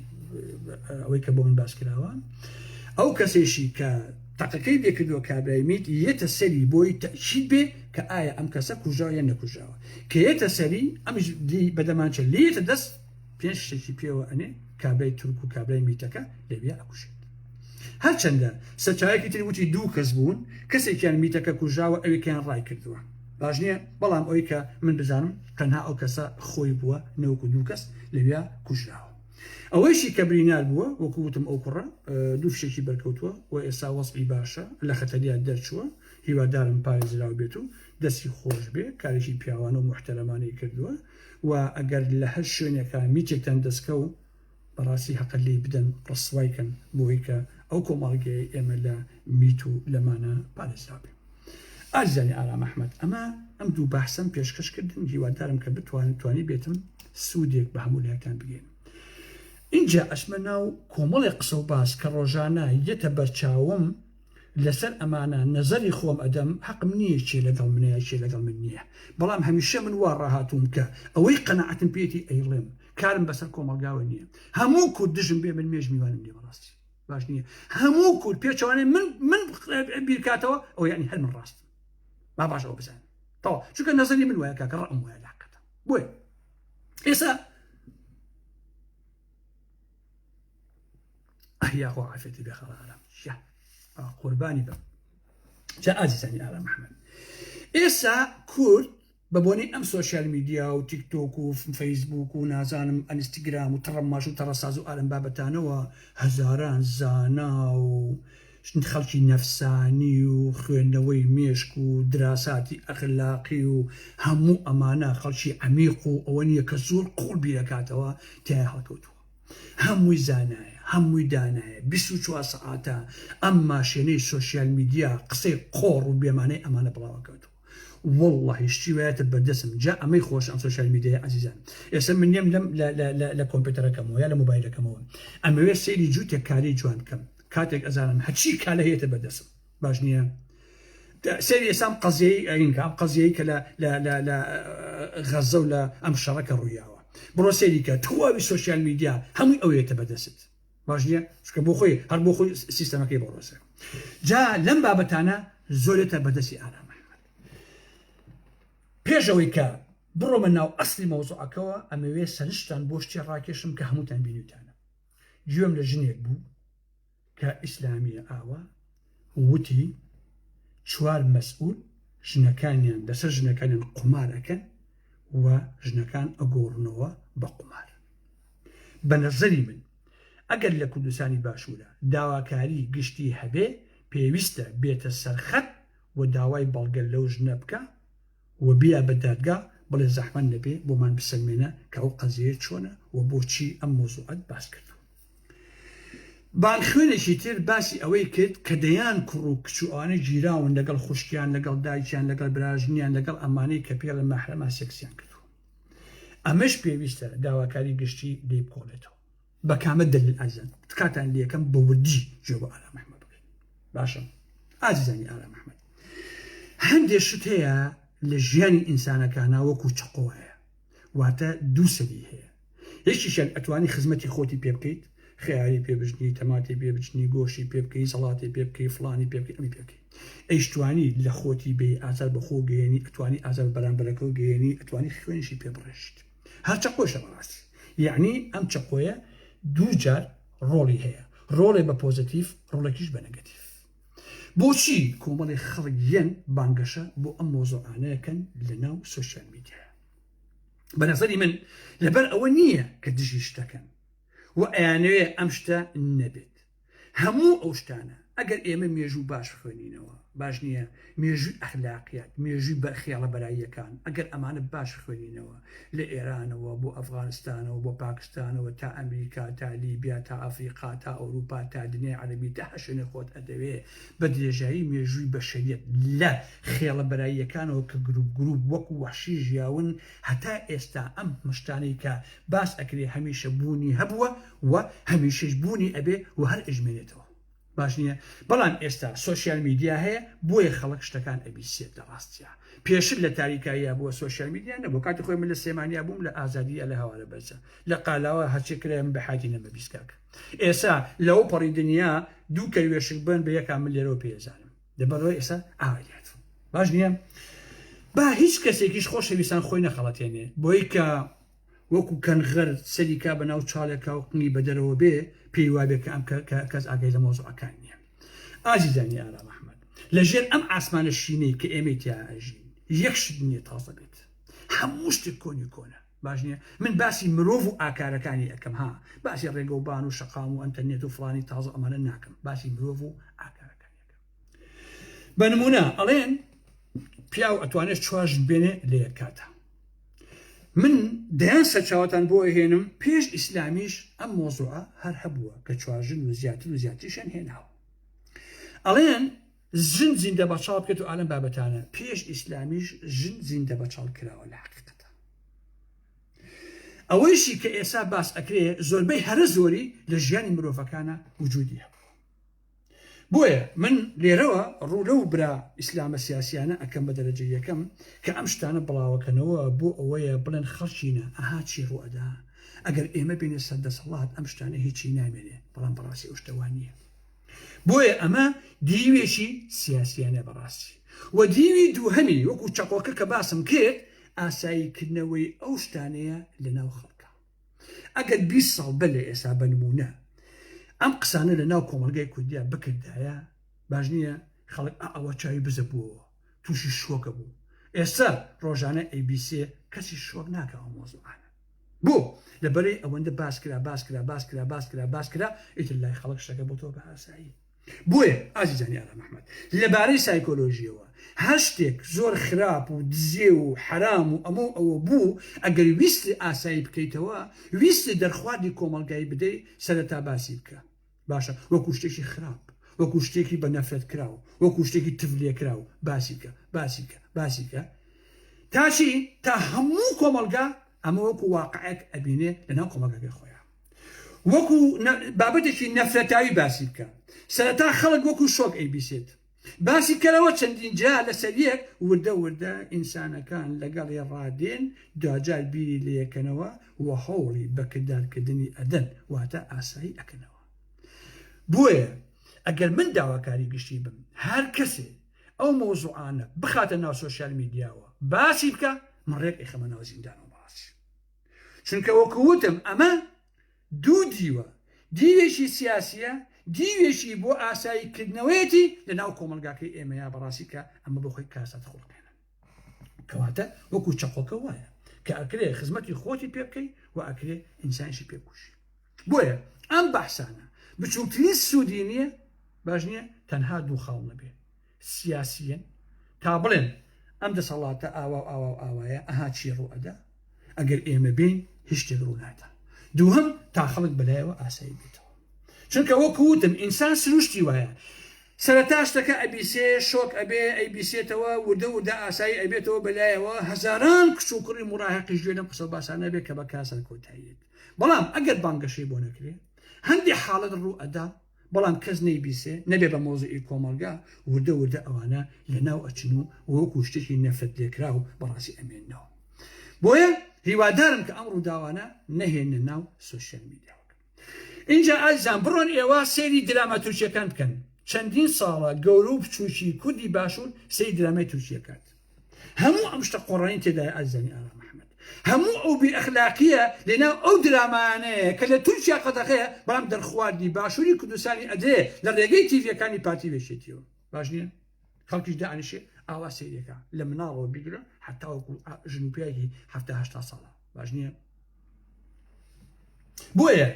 ئەوەی کە بۆ من باس کراوە ئەو کەسێشی کە تەقەکەی بێکردووە کابرای میت یەتە سەری بۆی تەشید بێ کە ئایا ئەم کەسە کوژاو یان نەکوژاوە کە یەتە سەری ئەمش دی بەدەمانچە لێتە دەست پێنج شتێکی پێوە ئەنێ کابرای تورک و کابرای میتەکە لەوێ ئەکوژێت هەرچەندە سەرچاوێکی تری وتی دوو کەس بوون کەسێکیان میتەکە کوژاوە ئەوێکیان ڕای کردووە باش نیە بەڵام ئەوەی کە من بزانم تەنها ئەو کەسە خۆی بووە نەوەکو دوو کەس لەویا کوژراوە ئەوەیشی کە برینار بووە وەکو وتم ئەو کوڕە دوو فشێکی بەرکەوتووە و ئێستا وەسبی باشە لە خەتەریا دەرچووە هیوادارم پارێزراو بێت و دەستی خۆش بێ کارێکی پیاوانە و محتەرەمانەی کردووە و ئەگەر لە هەر شوێنێکە میتێکتان دەستکە و بەڕاستی هەقە لێی بدەن ڕسوای کەن بۆی کە ئەو کۆمەڵگەیەی ئێمە لە میت و لەمانە پارێزراوبێ ئازیزانی ئارام ئەحمد ئەمە ئەم دوو بەحسم پێشکەش کردن هیوادارم کە بتوانن توانی بێتم سوودێک بە هەموو لایەکان بگەین اینجا ئەسمە ناو کۆمەڵی قسە و باس کە ڕۆژانە یەتە بەرچاوم لەسەر ئەمانە نەزەری خۆم ئەدەم حەقم نییە چێ لەگەڵ منەیە چێ لەگەڵ من نییە بەڵام هەمیشە من وا ڕاهاتووم کە ئەوەی قەنەعەتم پێێتی ئەیڵێم کارم بەسەر کۆمەڵگاوە نییە هەموو کورد دژم بێ من مێژ میوانم نیە بەڕاستی باش نییە هەموو کورد پێچوانێ من من بیرکاتەوە ئەو یعنی هەر من ڕاستم ما باش ئەو بزان تەوا چونکە نەزەری من وایە کاکە ڕەم وایە لاقەتە بۆیە ئێستا ئەهیا خۆ عافێتی بێ خەڵ ئارام قوربانی بە جا ئازیزانی ئارام محمد ئێستا کورد بە بۆنەی ئەم سۆشیال میدیا و تیک تۆک و فەیسبووک و نازانم ئەنستگرام و تەڕەماش و تەڕەساز و ئالەم بابەتانەوە هەزاران زانا و خەڵکی نەفسانی و خوێندنەوەی مێشک و دراساتی ئەخلاقی و هەموو ئەمانە خەڵکی عەمیق و ئەوە نیە کە زۆر قووڵ بیرەکاتەوە تیایا هەڵکەوتووە هەمووی زانایە هەمووی دانایە 24 سەعاتە ئەم ماشێنەی سۆشیال میدیا قسەی قۆڕ و بێمانەی ئەمانە بڵاوەکەوتووە. وەڵڵاهی شتی وایەتە بەردەسم جا ئەمەی خۆش ئەم سۆشیال میدیای ئازیزان ئێستا من نێم لەم لە کۆمپیوتەرەکەمەوە یا لە مۆبایلەکەمەوە ئەمەوێت سەیری جووتێک کاری جوان بکەم کاتێک ئەزانم هەچی کالە هەیەتە بەردەسم باش نییە سەیری ئێسام قەزیەی ئەینکە ئەم قەزیەی کە لە غەزە و لە ئەم شەڕەکە ڕوویاوە بڕۆ سەیریکە تواوی سوۆسیال میدیا هەمووی ئەوێتە بەدەست باش نیە چونکە بۆ خۆی هەر بۆ خۆی سیستەمەکەی بۆ ڕۆسە جا لەم بابەتانە زۆرێتە بەدەستی ئارام ئەحمەد پێشەوەی کە بڕۆمە ناو ئەسلی مەوزوعەکەەوە ئەمەوێ سەرشتان بۆ شتێ ڕاکێشم کە هەمووتان بینیتانە گوێم لە ژنێک بوو کە ئیسلامیە ئاوا وتی چوار مەسئول ژنەکانیان لەسەر ژنەکانیان قومارەکەن و ژنەکان ئەگۆڕنەوە بە قومار بە نەزەری من ئەگەر لە کوردستانی باشوورا داواکاری گشتی هەبێ پێویستە بێتە سەر خەت و داوای بەڵگە لەو ژنە بکا و بیا بە دادگا بڵێ زەحمەت نەبێ بۆمان بسەلمێنە کە ئەو قەزیەیە چۆنە و بۆچی ئەم مەوزوعەت باس کردوە. بان خوێنێکی تر باسی ئەوەی کرد کە دەیان کوڕ و کچ و ئەوانە گیراون لەگەڵ خوشکیان لەگەڵ دایکیان لەگەڵ براژنیان لەگەڵ ئەمانەی کە پێڵێ مەحرەمە سێکسیان کردوە. ئەمەش پێویستە داواکاری گشتی لێ بکۆڵێتەوە بە کامە دلیل ئازان تکاتان لەکەم بە وردی جوێ بۆ ئارام ئەحمەد بکەین باشم ئازیزانی ئارام ئەحمەد هەندێک شت هەیە لە ژیانی ئینسانەکانە وەکو چقۆیە واتە دووسەری هەیە یەکیشان ئەتوانی خزمەتی خۆتی پێ بکەیت خیاری پێبژنی تەماتی پێبچنی گۆشی پێ بکەی سەڵاتی پێ بکەی فلانی پێ بکەی ئەمی پێ بکەی ئەیشتوانی لە خۆتی بێی ئازار بە خۆو گەیەنی ئەتوانی ئازار بە بەرامبەرەکەو گەیەنی ئەتوانی خوێنیشی پێ بڕێژیت هەر چەقۆشە بەڕاستی یەعنی ئەم چەقۆیە دوو جار ڕۆڵی هەیە ڕۆڵێ بە پۆزەتیف ڕۆڵێکیش بە نەگەتیف بۆچی کۆمەڵێ خەڵک یەن بانگەشە بۆ ئەم مۆزۆعانەیەکەن لە ناو سوسیال میدیا بە نەزەری من لەبەر ئەوە نییە کە دژی شتەکەن و ئەیانەوێ ئەم شتە نەبێت هەموو ئەو شتانە ئەگەر ئێمە مێژوو باش خوێنینەوە باش نییە مێژووی ئەخلاقیات مێژووی بەرخیاڵە بەراییەکان ئەگەر ئەمانە باش خوێنینەوە لە ئێرانەوە بۆ ئەفغانستانەوە بۆ پاکستانەوە تا ئەمریکا تا لیبیا تا ئەفریقا تا ئەوروپا تا دنیای عەربی تا هەشێنێ خۆت ئەدەوێ بە درێژایی مێژووی بەشەریەت لە خێڵە بەراییەکانەوە کە گروپ گروپ وەکو وەحشی ژیاون هەتا ئێستا ئەم مشتانەی کە باس ئەکرێ هەمیشە بوونی هەبووە و هەمیشەش بوونی ئەبێ و هەر ئەژمێنێتەوە باش نیە بەڵام ئێستا سۆشیال میدیا هەیە بۆیە خەڵک شتەکان ئەبیسێت لە ڕاستیا پێشت لە تاریکاییە بووە سۆشیال میدیا نەبوو کاتی خۆی من لە سێمانیا بووم لە ئازادیە لە هەوارە بەرزە لە قالاوە هەرچێ کرای من بەحاتی نەمە بیستکاک ئێسا لەو پەڕی دنیا دوو کەروێشک بن بە یەکان من لێرەوە پێزانم لەبەرەوە ئێستا ئاوایات باش نییە با هیچ کەسێکیش خۆشەویستان خۆی نەخەڵەتێنێ بۆی کە وەکو کەنغەر سەری کا بەناو چاڵێکا و قنگی بەدەرەوە بێ پێی وابێ کە ئەم کەس ئاگای لە مەوزوعەکان نییە ئازیزانی ئارام ئەحمەد لەژێر ئەم ئاسمانە شینەی کە ئێمەی تیا ئەژین یەک شت نییە تازە بێت هەموو شتێک کۆنی کۆنە باش نییە من باسی مرۆڤ و ئاکارەکانی ئەەکەم ها باسی ڕێگە و بان و شەقام و ئەنتەرنێت و فلانی تازە ئەمانە ناکەم باسی مرۆڤ و ئاکارەکانی بە نمونە ئەڵێن پیاو ئەتوانێت چوار ژن بێنێ لە یەک کاتە من دەیان سەرچاوتان بۆ هێنم پێش ئیسلامیش ئەم مۆزوعە هەر هەبووە کە چوارژن و زیاتر و زیاتریشان هێناوە ئەڵێن ژن زیندە بەچاڵ بکەێت و ئالم بابەتانە پێش ئیسلامیش ژن زیندە بەچاڵ کراوە لە حقیقەتە ئەوەیشی کە ئێسا باس ئەکرێ زۆربەی هەرە زۆری لە ژیانی مرۆڤەکانە وجودی هەبوو بۆیە من لێرەوە ڕوو لەو برا ئیسلامە سیاسیانە ئەکەم بە دەرەجە یەکەم کە ئەم شتانە بڵاوەکەنەوە بۆ ئەوەیە بڵێن خەڵکینە ئەها چی ڕوئەدا ئەگەر ئێمە بینە سەر دەسەڵات ئەم شتانە هیچی نامێنێ بەڵام بەڕاستی ئەو شتەوان نییە بۆیە ئەمە دیوێکی سیاسیانە بەڕاستی و دیوی دووهەمی وەکو چەقۆکە کە باسم کرد ئاساییکردنەوەی ئەو شتانەیە لە ناو خەڵکە ئەگەر بیست ساڵ بەر لە ئێسا بە نموونە ئەم قسانە لە ناو کۆمەڵگای کوردیا بکردایە باش نییە خەڵک ئەوە چاوی بزە بووەوە تووشی شۆکە بوو ئێستا ڕۆژانە ABC کەسی شۆک ناکەەوە مۆزوعانە بۆ لەبەرەی ئەوەندە باس کرا باس کرا باس کرا باس کرا باس کرا ئیتر لای خەڵک شتەکە بۆ تۆ بە ئاسایی بۆیە ئازیزانی ئارام ئەحمەد لە بارەی سایکۆلۆژیەوە هەر شتێک زۆر خراپ و دزێو و حەرام و ئەمە و ئەوە بوو ئەگەر ویستی ئاسایی بکەیتەوە ویستی دەرخواردی کۆمەڵگای بدەی سەرەتا باسی بکە باشە وەکو شتێکی خراپ وەکو شتێکی بە نەفرەت کراو وەکو شتێکی تف لێکراو باسی بکە باسی بکە باسی بکە تاشی تا هەموو کۆمەڵگا ئەمە وەکو واقعێک ئەبینێ لەناو کۆمەڵگەکەی خۆیان وەکو بابەتێکی نەفرەتاوی باسی بکە سەرەتا خەڵک وەکو شۆک ئەیبیسێت باسی کەرەوە چەندین جا لەسەر یەک وردە وردە ئینسانەکان لەگەڵی ڕادێن دواجار بیری لەکەنەوە و هەوڵی بەکردارکردنی ئەدەن واتە ئاسایی ئەکەنەوە بۆیە ئەگەر من داواکاری گشتی بم هەر کەسێ ئەو مۆزوعانە بخاتە ناو سوۆسیال میدیاوە باسی بکە من ڕێک ئەخەمە ناو زیندانەوە چونکە وەکو وتم ئەمە دوو دیوە، دیوێکی سیاسیە، دیوێکی بۆ ئاسایی کردنەوەیەتی لە ناو کۆمەڵگاکەی ئێمە یا بەڕاستی کە ئەمە بۆ خۆی کاسات خوڵقێنن کەواتە وەکو چەقۆکە وایە کە ئەکرێ خزمەتی خۆتی پێ بکەی و ئەکرێ ئینسانشی پێ بکوشی بۆیە ئەم بەحسانە بچووکترین سوودی نییە باش نییە تەنها دوو خاڵ نەبێ سیاسیین تا بڵێن ئەم دەسەڵاتە ئاوا و ئاوا و ئاوایە ئەها چی ڕوو ئەدا ئەگەر ئێمە بین هیچ شتێک ڕوو نادا دووهم تا خەڵک بەلایەوە ئاسایی بێتەوە چونکە وەکو وتم ئینسان سروشتی وایە سەرەتا شتەکە ئەبیسێ شۆک ئەبێ ئەیبیسێتەوە وردە وردە ئاسایی ئەبێتەوە بەلایەوە هەزاران کچ و کوڕی مڕاهقیش گوێ لەم قسە باسانە بێ کە بە کاسەر کۆتاییەت بەڵام ئەگەر بانگەشەی بۆ نەکرێ هەندێک حاڵەت ڕوو ئەدا بەڵام کەس نەیبیسێ نەبێ بە مەوزعی کۆمەڵگا وردە وردە ئەوانە لە ناو ئەچن و وەکو شتێکی نەفرەت لێکراو بەڕاستی ئەمێننەوە بۆیە هیوادارم کە ئەم ڕووداوانە نەهێنە ناو سۆشیال میدیا ئینجا ئازیزان بڕۆن ئێوە سەیری دراما تورکیەکان بکەن چەندین ساڵە گەورە و بچووکی کوردی باشوور سەیری درامای تورکیەکات هەموو ئەم شتە قۆڕانی تێدای ئازیزانی ئارام محمد هەموو ئەو بێ ئەخلاقیە لەناو ئەو درامانەیە کە لە تورکیا قەدەغەیە بەڵام دەرخواردی باشووری کوردستانی ئەدرێ لە ڕێگەی تیڤەکانی پارتی وێشێتیەوە باش نییە خەڵکیش دانیشێ ئاوا سەیرێکە لە مناڵەوە بگرە حتاوەکو ژن پیاگی هەفتاهشتا ساڵە باش نییە بۆیە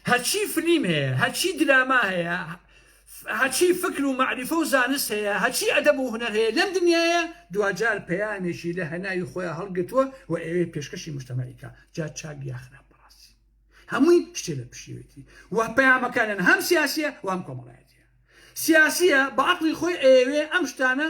هەرچی فلیم هەیە هەرچی دراما هەیە هەچی فکر و معریفە و زانست هەیە هەچی ئەدەب و هونەر هەیە لەم دنیاە دوجار پەیامێکی لە هەناوی خۆیان هەڵگرتووە و ئەوێ پێشکەشی مشتمەیکە جا چاک یاخرا بەڕاستی هەمووی شتێ لە پشیوێتی و پەیامەکانن هەم سیاسیە وام کۆمەڵایەتە سیاسیە بە عقلی خۆی ئەوێ ئەم شتانە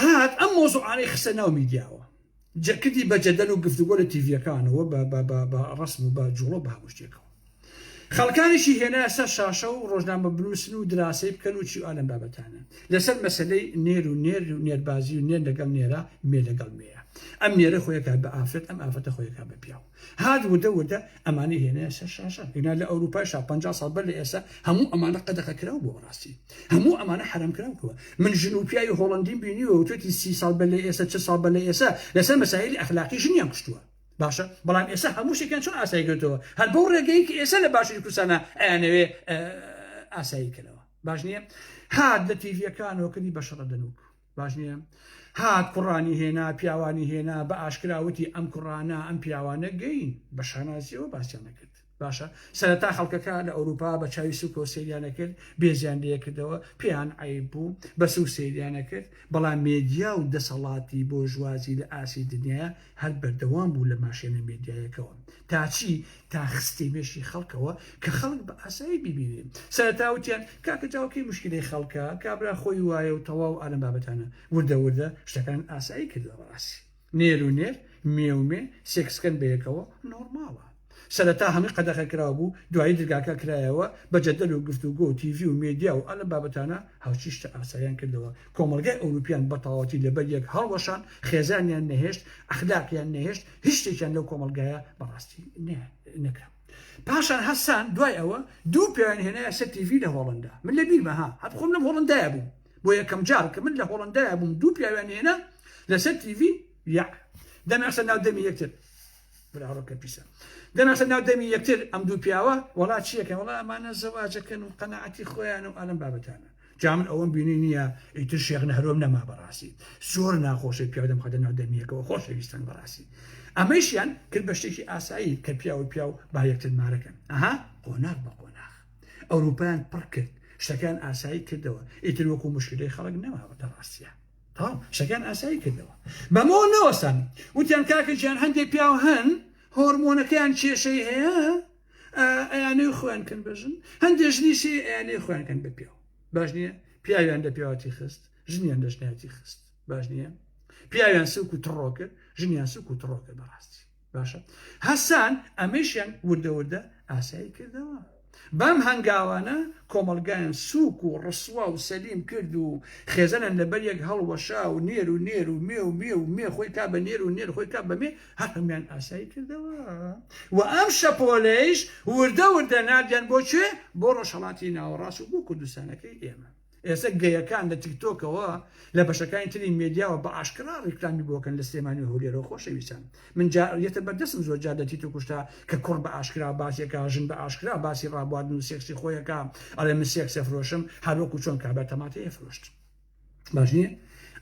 هات ئەم مۆزوعانەی خستە ناو میدیاوە جەکردی بە جەدەل و گفتوگۆ لە تیڤەکانەوە بە ڕسم و بە جوڵە بە هەموو شتێکەوە خەڵکانیشی هێنا سەر شاشە و ڕۆژنامە بنووسن و دراسەی بکەن و چی ئالم بابەتانە لەسەر مەسلەی نێر و نێر و نێربازی و نێر لەگەڵ نێرە مێ لەگەڵ مێە ئەم نێرە خۆیەکە بە ئافرەت ئەم ئافرەتە خۆیەکە بە پیاو هات وردە وردە ئەمانەی هێنایە سەر شاشە ئینا لە ئەوروپایشا پەنجا ساڵ بەر لە ئێستا هەموو ئەمانە قەدەغە کراو بووە ڕاستی هەموو ئەمانە حەرام کراو بووە من ژن و پیاوی هۆڵەندیم بینیوە وتوێتی سی ساڵ بەر لە ئێستا چل ساڵ بەر لە ئێستا لەسەر مەسایلی ئەخلاقی ژنیان کوشتووە باشە بەڵام ئێستا هەموو شتێکیان چۆن ئاسای کردەوە هەر بەو ڕێگەی کە ئێستا لە باشووری کوردستانە ئەیانەوێ ئاسایی کەنەوە باش نییە هات لە تیڤیەکانەوە کردی بە شەڕە دەنووک باش نیە؟ هات کوڕانی هێنا پیاوانی هێنا بە ئاشکرا وتی ئەم کوڕانە ئەم پیاوانە گەین بە شانازیەوە باسیان نەکرد باشە سەرەتا خەڵکەکە لە ئەوروپا بە چاوی سوکەوە سریانە کرد بێزیان لەکردەوە پێیان عیب بوو بە سو سریانە کرد بەڵام مێدیا و دەسەڵاتی بۆژوازی لە ئاسی دنیاە هەر بەردەوام بوو لە ماشێنە مێدیایەکەوە تاچی تا خستە مێشکی خەڵکەوە کە خەڵک بە ئاسایی بیبینێ سەرەتا وتیان کاکە جاو کەی مشکلەی خەڵکە کابرا خۆی وایە و تەواو ئالەم بابەتانە وردە وردە شتەکان ئاسایی کردە بەڕاستی نێر و نێر مێ و مێ سێکسکەن بەیەکەوە نۆرماڵە سەرەتا هەمووی قەدەخە کراو بوو دوایی درگاکە کرایەوە بە جەدەل و گفتوگۆ و تیڤی و مێدیا و ئالەم بابەتانە هاوچی شتە ئاسایان کردەوە کۆمەڵگای ئەوروپیان بەتەواوەتی لەبەر یەک هەڵوەشان، خێزانیان نەهێشت، ئەخلاقیان نەهێشت، هیچ شتێکیان لەو کۆمەڵگایە بەڕاستی نەکرا. پاشان هەستان دوای ئەوە دوو پیاویان هێنایە سەر تیڤی لە هۆڵەندا، من لە بیرمە ها هەر خۆم لەم هۆڵەندایە بووم، بۆ یەکەم جار کە من لە هۆڵەندایە بووم دوو پیاویان هێنا لەسەر تیڤی، یاع دەمیان خستە ناو دەمی یەکتر. براڕۆکە پیسە دەناسە ناو دەمی یەکتر ئەم دوو پیاوە وڵا چیەکە وڵا ئەمانە زەواجەکەن و قەنەعەتی خۆیان و ئەلم بابەتانە جامن ئەوەم بینی نییە ئیتر شێخ نەهرۆم نەما بەڕاستی زۆر ناخۆشی پیاودەم خەدە ناو دەمیەکەەوە خۆشەویستان بەڕاستی ئەمەشیان کرد بە شتێکی ئاسایی کە پیاوە پیاو با یەکتر مارەکەن ئەها قۆناغ بە قۆناغ ئەوروپیان پڕ کرد شتەکان ئاسایی کردەوە ئیتر وەکو مشکلی خەڵک نەماوە دەڕاستە تەواو قسەکەیان ئاسایی کردەوە بەمەوە نەوەستان وتیان کاکە گیان هەندێک پیاو هەن هۆرمۆنەکەیان کێشەی هەیە ئەیانەی خۆیان کەن بەژن هەندێک ژنیشی ئەیانەی خۆیان کەن بە پیاو باش نییە پیاویان لە پیاوەتی خست ژنیان دەژنیاتی خست باش نییە پیاویان سوک و تڕۆ کرد ژنیان سوک و تڕۆ کرد بەڕاستی باشە هەسان ئەمەیشیان وردە وردە ئاسایی کردەوە. بەم هەنگاوانە کۆمەڵگایان سووک و ڕسوا و سەلیم کرد و خێزانیان لەبەر یەک هەڵوەشا و نێر و نێر و مێ و مێ و مێ خۆی کا بە نێر و نێر خۆی کا بە مێ هەر هەموویان ئاسایی کردەوە و ئەم شەپۆلەیش وردە وردە ناردیان بۆ کوێ بۆ ڕۆژهەڵاتی ناوەڕاست و بۆ کوردستانەکەی ئێمە ئێستا گەیەکان لە تیکتۆکەوە لە بەشەکانی تری مێدیاوە بە ئاشکرا ڕیکلامی بۆ کەن لە سلێمانی و هەولێرەوە خۆشەویستان من جا یەتە بەردەسم زۆر جار لە تیتۆک شتا کە کوڕ بە ئاشکرا باسی ئەکا ژن بە ئاشکرا باسی ڕابواردن و سێکسی خۆی ئەکا ئەڵێ من سێکس ئەفرۆشم هەر وەکو چۆن کابرا تەماتەی ئەفرۆشت باش نییە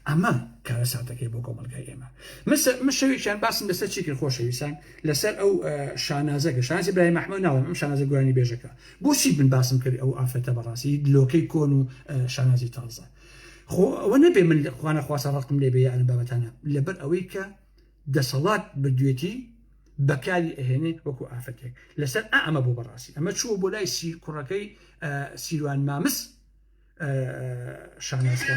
ئەمە کارەساتەکەی بۆ کۆمەڵگای ئێمە مسە من شەوێکیان باسم لەسەر چی کرد خۆشەویستان لەسەر ئەو شانازەکە شانازی برای مەحمەد ناڵم ئەم شانازە گۆرانی بێژەکە بۆچی من باسم کرد ئەو ئافرەتە بەڕاستی لۆکەی کۆن و شانازی تازە خۆ ئەوە نەبێ من خوانە خواسە ڕقم لێ بێ ئەم بابەتانە لەبەر ئەوەی کە دەسەڵات بردوێتی بەکاری ئەهێنێ وەکو ئافرەتێک لەسەر ئەمە بۆ بەڕاستی ئەمە چووە بۆ لای سیر کوڕەکەی سیروان مامس شانازکە.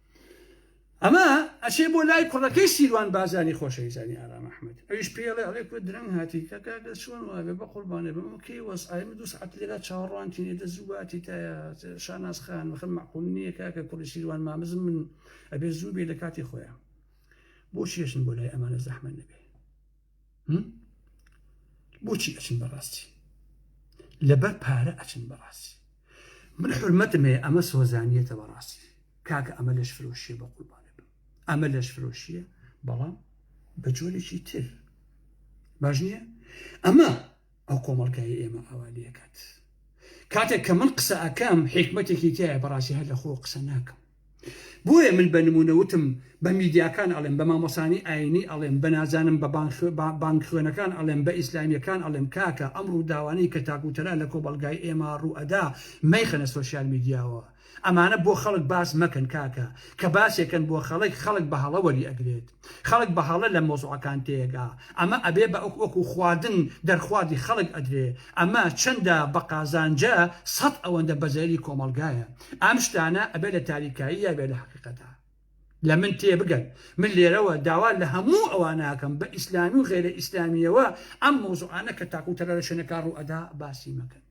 ئەمە ئەچێ بۆ لای کوڕەکەی سیروان بازانی خۆشەویستانی ئارام ئەحمد ئەویش پێڵێ ئەڵێ کو درەنگ هاتی کە کاکە چۆن وابێ بە قوربانێ بم کەی وەس ئایم دو سعات لێرا چاوەڕوانتینێ دە زوواتی تایە شاناز خان وەخم معقول نییە کاکە کوڕی سیروان مامزم من ئەبێ زوو بێ لە کاتی خۆیان بۆ چێشن بۆ لای ئەمانە زەحمە نەبێ بۆچی ئەچن بەڕاستی لەبەر پارە ئەچن بەڕاستی من حرمەتم هەیە ئەمە سۆزانیەتە بەڕاستی کاکە ئەمە لەش فرۆشیە بە قوربانە بم ئەمە لەش فرۆشیە بەڵام بە جۆرێکی تر باش نییە ئەمە ئەو کۆمەڵگای ئێمە ئاوالەکات کاتێک کە من قسە ئەەکەم حکمتێکی تایە بەڕاستی هەر لە خۆ قسە ناکەم بۆیە من بە نمونە وتم بە میدیاکان ئەڵێم بە مامۆسانی ئاینی ئەڵێم بە نازانم بە بانگ خوێنەکان ئەڵێم بە ئیسلامیەکان ئەڵێم کاکە ئەم ڕوداوانەی کە تاک و تەرا لە کۆمەڵگای ئێمە ڕوو ئەدا مەیخەنە سۆشیال میدیاوە ئەمانە بۆ خەڵک باس مەکەن کاکە کە باسێکەن بۆ خەڵک خەڵک بە هەڵە وەری ئەگرێت خەڵک بە هەڵە لە مۆزوعەکان تێگا ئەمە ئەبێ بە ئەک وەکو خواردن دەرخواردی خەڵک ئەدرێ ئەمە چەندە بە قازانجە سەد ئەوەندە بەزەیری کۆمەڵگایە ئەم شتانە ئەبێ لە تاریکاییا بێ لە حەقیقەتا لە من تێ بگەن من لێرەوە داوا لە هەموو ئەواناکەم بە ئیسلامی و غێرە ئیسلامیەوە ئەم مۆزوعانە کە تاکو تەلە لە شوێنەکە ڕوئەدا باسی مەکەن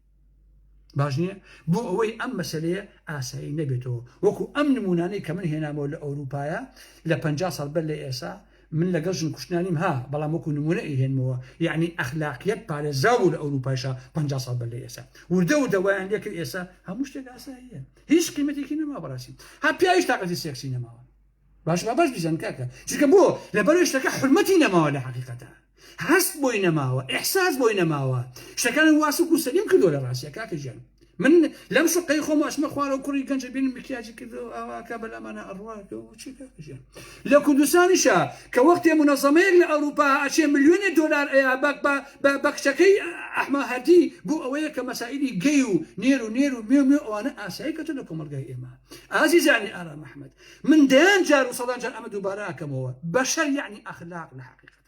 باش نییە بۆ ئەوەی ئەم مەسلەیە ئاسایی نەبێتەوە وەکو ئەم نمونانەی کە من هێنامەوە لە ئەوروپایە لە پ ساڵ بەر لە ئێسا من لەگەڵ ژن کوشتنا نیم ها بەڵام وەکو نمونە ئەیهێنمەوە یەعنی ئەخلاقیەت پارێزراو بوو لە ئەوروپایشا پەنجا ساڵ بەر لە ئێسا وردە وردە وایان لێکرد ئێسا هەموو شتێک ئاساییە هیچ قیمەتێکی نەما بەڕاستی ها پیاویش تاقەتی سێکسی نەماوە باش با باش بیزان کاکە چونکە بۆ لەبەرەوەی شتەکە حورمەتی نەماوە لە حەقیقەتە هەست بۆی نەماوە ئیحساس بۆی نەماوە شتەکان وا سوک و سەلیم کردوە لە ڕاستیا کاکە گیان من لەم شوقەی خۆم ئەچمە خوارەوە کوڕی گەنج ئەبینم مکیاجی کردەوە ئاواکە بەلامانە ئەڕوا چی کاکە گیان لە کوردستانیشە کە وەختێ منەزەمەیەک لە ئەوروپا ئەچێ ملیۆنێ دۆلار ئەیا بەک بە بە بە کچەکەی ئەحمە هەردی بۆ ئەوەیە کە مەسائیلی گەی و نێر و نێر و مێ و مێ ئەوانە ئاسایی کەتە لە کۆمەڵگای ئێمە ئازیزانی ئارام ئەحمەد من دەیان جار و سەدان جار ئەمە دووبارە ئەکەمەوە بەشەر یەعنی ئەخلاق لە حەقیقەت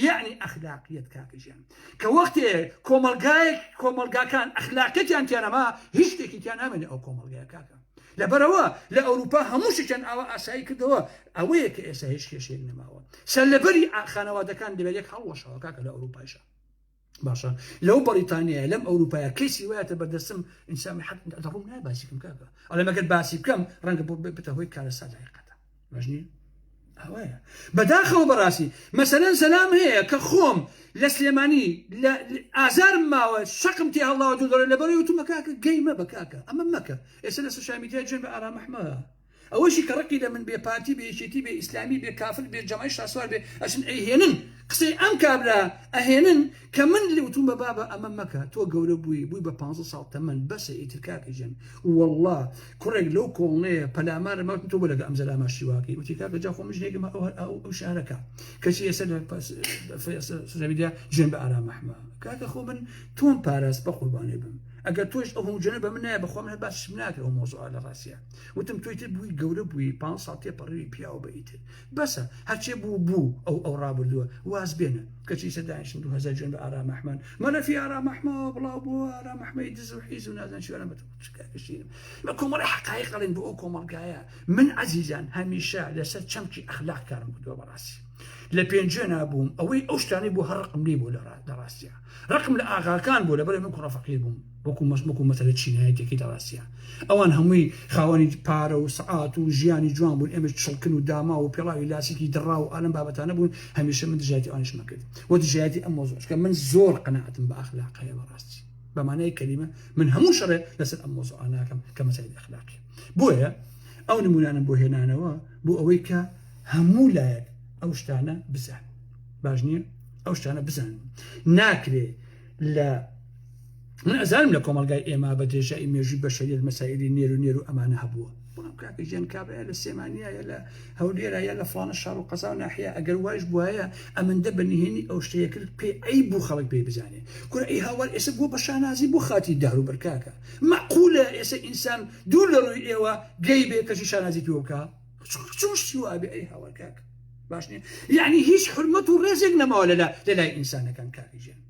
یەعنی ئەخلاقیەت کاکە گیان کە وەختێ کۆمەڵگایەک کۆمەڵگاکان ئەخلاقیەتیان تیانەما هیچ شتێکی تیا نامێنێ ئەو کۆمەڵگای کاکە لەبەرەوە لە ئەوروپا هەموو شتیان ئاوا ئاسایی کردەوە ئەوەیە کە ئێستا هیچ کێشەیەک نەماوە سەر لەبەری خانەوادەکان دەبێت یەک هەڵوەشەوە کاکە لە ئەوروپایشە باشە لەو بەڕیتانیە لەم ئەوروپایە کەیسی وایەتە بەردەسم ئینسامی حق دەڕوم نای باسیکم کاکە ئەڵێ مەگەر باسی بکەم ڕەنگە بۆ بێتە هۆی کارە سادایقەتە مەژنی ئەوەیە بەداخەوە بەڕاستی مەسەرەن سەلام هەیە کە خۆم لە سلێمانی لە ئازارم ماوە شەقم تێ هەڵاوە دوو دەڕێ لە بەڕێ وتومە کاکە گەیمە بە کاکە ئەمە مەکە ئێستا لە سوشامیدیا جێن بە ئارامەحمە ئەوەشی کە ڕقی لە من بێ پارتی بێ یەکێتی بێ ئیسلامی بێ کافر بێ جەمای شاسوار بێ ئەچن ئەیهێنن قسەی ئەم کابرا ئەهێنن کە من لێوتومە بابە ئەمە مەکە تۆ گەورە بووی بووی بە پانزە ساڵ تەمەن بەسە ئیتر کاکە گیان وەڵڵا کوڕێک لەو کۆڵنەیە پەلامارە مەوتن تۆ بۆ لەگە ئەم زەلامە شیواکەی وتی کاکە جا خۆ من ژنێکم ئەو شارەکە کەچی ئێستا لە سوزەویدیا جوێن بە ئارام ئەحمە کاکە خۆ من تۆم پاراست بە قوربانێ بم ئەگەر تۆش ئەو هەموو جوێنە بە من نایە بەخوا من هەر باسشم ناکرێ ئەو مۆزوعە لە ڕاستیە وتم تۆی تر بووی گەورە بووی پ ساڵ تێپەڕیوی پیاو بە ئیتر بەسە هەرچێ بوو بوو ئەو ئەو ڕابردووە واز بێنە کەچی سەدایشن دو هەزار جوێن بە ئارام ئەحمەد مەلەفی ئارام ئەحمەوە بڵاو بۆ ئارام ئەحمەی دز و حیز و نازان چیوانە بە تکاکەشیرم بە کۆمەڵی حقایق دەڵێن بۆ ئەو کۆمەڵگایە من عزیزان هەمیشە لەسەر چەمکی ئەخلاق کارم کردووە بەڕاستی لە پێنجێ نابووم ئەوەی ئەو شتانەی بۆ هەڕقم لی بوو لە ڕاستە ڕقم لە ئاغاکان بوو لەبەرئ من کوڕە فەقیر بووم وەکو مەس وەکو مەسەلە چینایەت یەکەی دەڕاستیا ئەوان هەمووی خاوەنی پارە و سەعات و ژیانی جوان بوون ئێمەش چڵکن و داماو و پێڵاوی لاسیکی دڕاو و ئالەم بابەتانە بوون هەمیشە من دژایەتی ئەوانیشمە کرد و دژایەتی ئەم مۆزوعە چونکە من زۆر قەناعەتم بە ئەخلاقەیە بەڕاستی بە مانای کەلیمە من هەموو شەڕێ لەسەر ئەم مۆزوعە ناکەم کە مەسەلەی ئەخلاقی بۆیە ئەو نمونانەم بۆ هێنانەوە بۆ ئەوەی کە هەموو لایەک ئەو شتانە بزانن باش نییە ئەو شتانە بزان ناکرێ لە من ئەزانم لە کۆمەلگای ئێمە بە درێژایی مێژوی بە شەریت مەسایری نێر و نێر و ئەمانە هەبووە بڵام کاکە ژێن کابراە لە سێمانە لە هەولێرا یا لە فلانە شار و قەزا و ناحەیە ئەگەر وایش بواە ئەمەندە بە نهێنی ئەو شتەیە کرد پێ ئەی بوو خەڵک پێی بزانێ کورە ئەی هاوار ئێسە بوو بە شانازی بۆ خاتی دار و بەرکاکە مەقولە ئێسە ئینسان دوو لە ڕووی ئێوە گەی بێ کەشی شانازی پێوکە چۆن شتی وابێ ئەی هاوار کاک باش نیە یعنی هیچ حرمەت و ڕێزێک نەماوە لەلا لە لای ئینسانەکان کاکژێن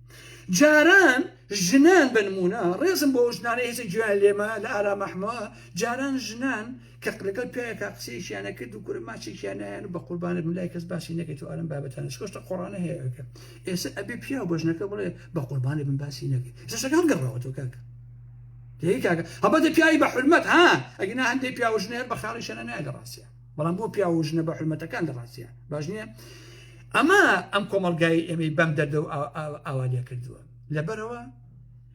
جاران ژنان بنمونە ڕێزم بۆ ژنانە هێزە گوێیان لێمە لە ئارامەحمەوە جاران ژنان کە لەگەڵ پیاەکە قسەیەکیانە کرد و کورە ماچێکیانیان بە قوربانە ملای کەس باسی نەکەێت و ئارم بابەتانە شکۆشتە قۆڕانە هەیەکە ئێستا ئەبێ پیا و بەژنەکە بڵێ بە قوربانە بن باسی نەکەێت زەشەکان گەڕاوەەوە کاکە دەی کاکە هەبەتە پیاوی بە حرمەت ها ئەگینا هەندێک پیاو ژنێر بە خاڵی شەنە نایە لە ڕاستە بەڵام بۆ پیاو و ژنە بە حرمەتەکان لە ڕاستە باش نییە ئەمە ئەم کۆمەلگای ئێمەی بەم دەردە و ئاوا لێ کردووە لەبەرەوە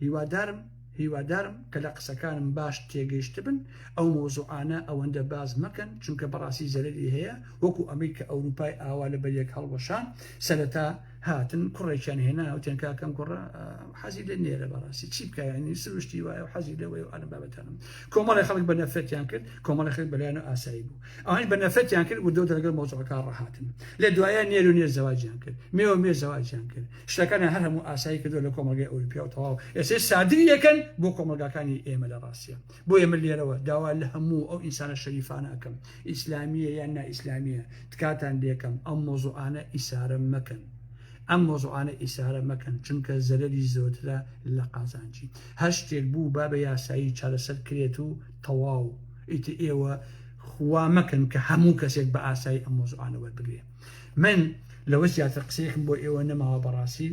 هیوادارم هیوادارم کە لە قسەکانم باش تێگەیشت بن ئەو مۆزوعانە ئەوەندە باز مەکەن چونکە بەڕاستی زەرری هەیە وەکو ئەمریکا ئەوروپای ئاوا لە بەریەک هەڵوەشان سەرەتا هاتن کوڕێکیان هێنا وتێن کاکەم کوڕە حەزی لە نێرە بەڕاستی چی بکایانی سروشتی وایە و حەزی لەوەی و ئەلم بابەتانم کۆمەڵی خەڵک بە نەفرەتیان کرد کۆمەڵی خەک بەلایەن و ئاسایی بوو ئەوانی بە نەفرەتیان کرد وردەوت لەگەڵ مۆزەکە ڕەهاتن لە دوایە نێر و نێر زەواجیان کرد مێ و مێ زەواجیان کرد شتەکانە هەر هەموو ئاسایی کردو لە کۆمەلگای ئەوروپیا و تەواو ئێسێ سادری یەکەن بۆ کۆمەلگاکانی ئێمە لە ڕاستە بۆیە من لێرەوە داوا لە هەموو ئەو ئینسانە شەریفانە ئەکەم ئیسلامیە یان نائیسلامیە تکاتان لێکەم ئەم مۆزوعانە ئیسارە مەکەن ئەم مۆزوعانە ئیسارە مەکەن چونکە زەرەری زۆرترە لە قازانجی هەر شتێک بوو با بە یاسایی چارەسەر کرێت و تەواو ئیتر ئێوە خوا مەکەن کە هەموو کەسێک بە ئاسایی ئەم مۆزوعانە وەربگرێ من لەوە زیاتر قسەیەکم بۆ ئێوە نەماوە بەڕاستی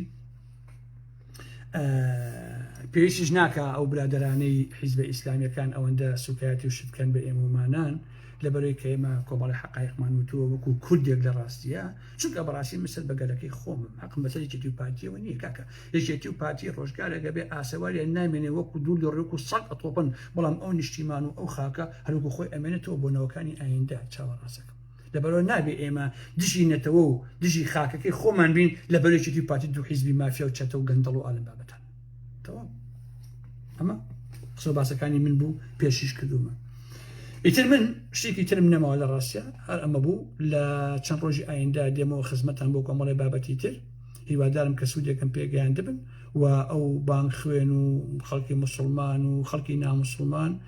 پێویستیش ناکە ئەو برادرانەی حیزبە ئیسلامیەکان ئەوەندە سوکایەتی و شتکەن بە ئێمەمانان لە بەرەی کە ئێمە کۆمەڵی حقایقمان وتووە وەکو کوردێک لە ڕاستیە چونکە بەڕاستی مسەر بە گەلەکەی خۆم حقم بەسەر یەکێتی و پارتیەوە نییە کاکە یەکێتی و پارتی ڕۆژگارێکە بێ ئاسەوارە نامێنێ وەکو دوور لە ڕێک و سەد ئەتۆپن بەڵام ئەو نیشتیمان و ئەو خاکە هەروکو خۆی ئەمێنێتەوە بۆ نەوەکانی ئایندە چاوەڕاستەکەم لەبەرئەوە نابێ ئێمە دژی نەتەوە و دژی خاکەکەی خۆمان بین لە بەر یەکێتی و پارتی دوو حیزبی مافیا و چەتە و گەندەڵ و ئالم بابەتان تەواو ئەمە قسە و باسەکانی من بوو پێشیش کردومە ئیتر من شتێکی ترم نەماوە لە ڕاستە هەر ئەمە بوو لە چەند ڕۆژی ئایندا دێمەوە خزمەتان بۆ کۆمەڵی بابەتی تر هیوادارم کە سوودێکم پێگەیان دەبن و ئەو بانگ خوێن و خەڵکی مسلمان و خەڵکی نامسلمان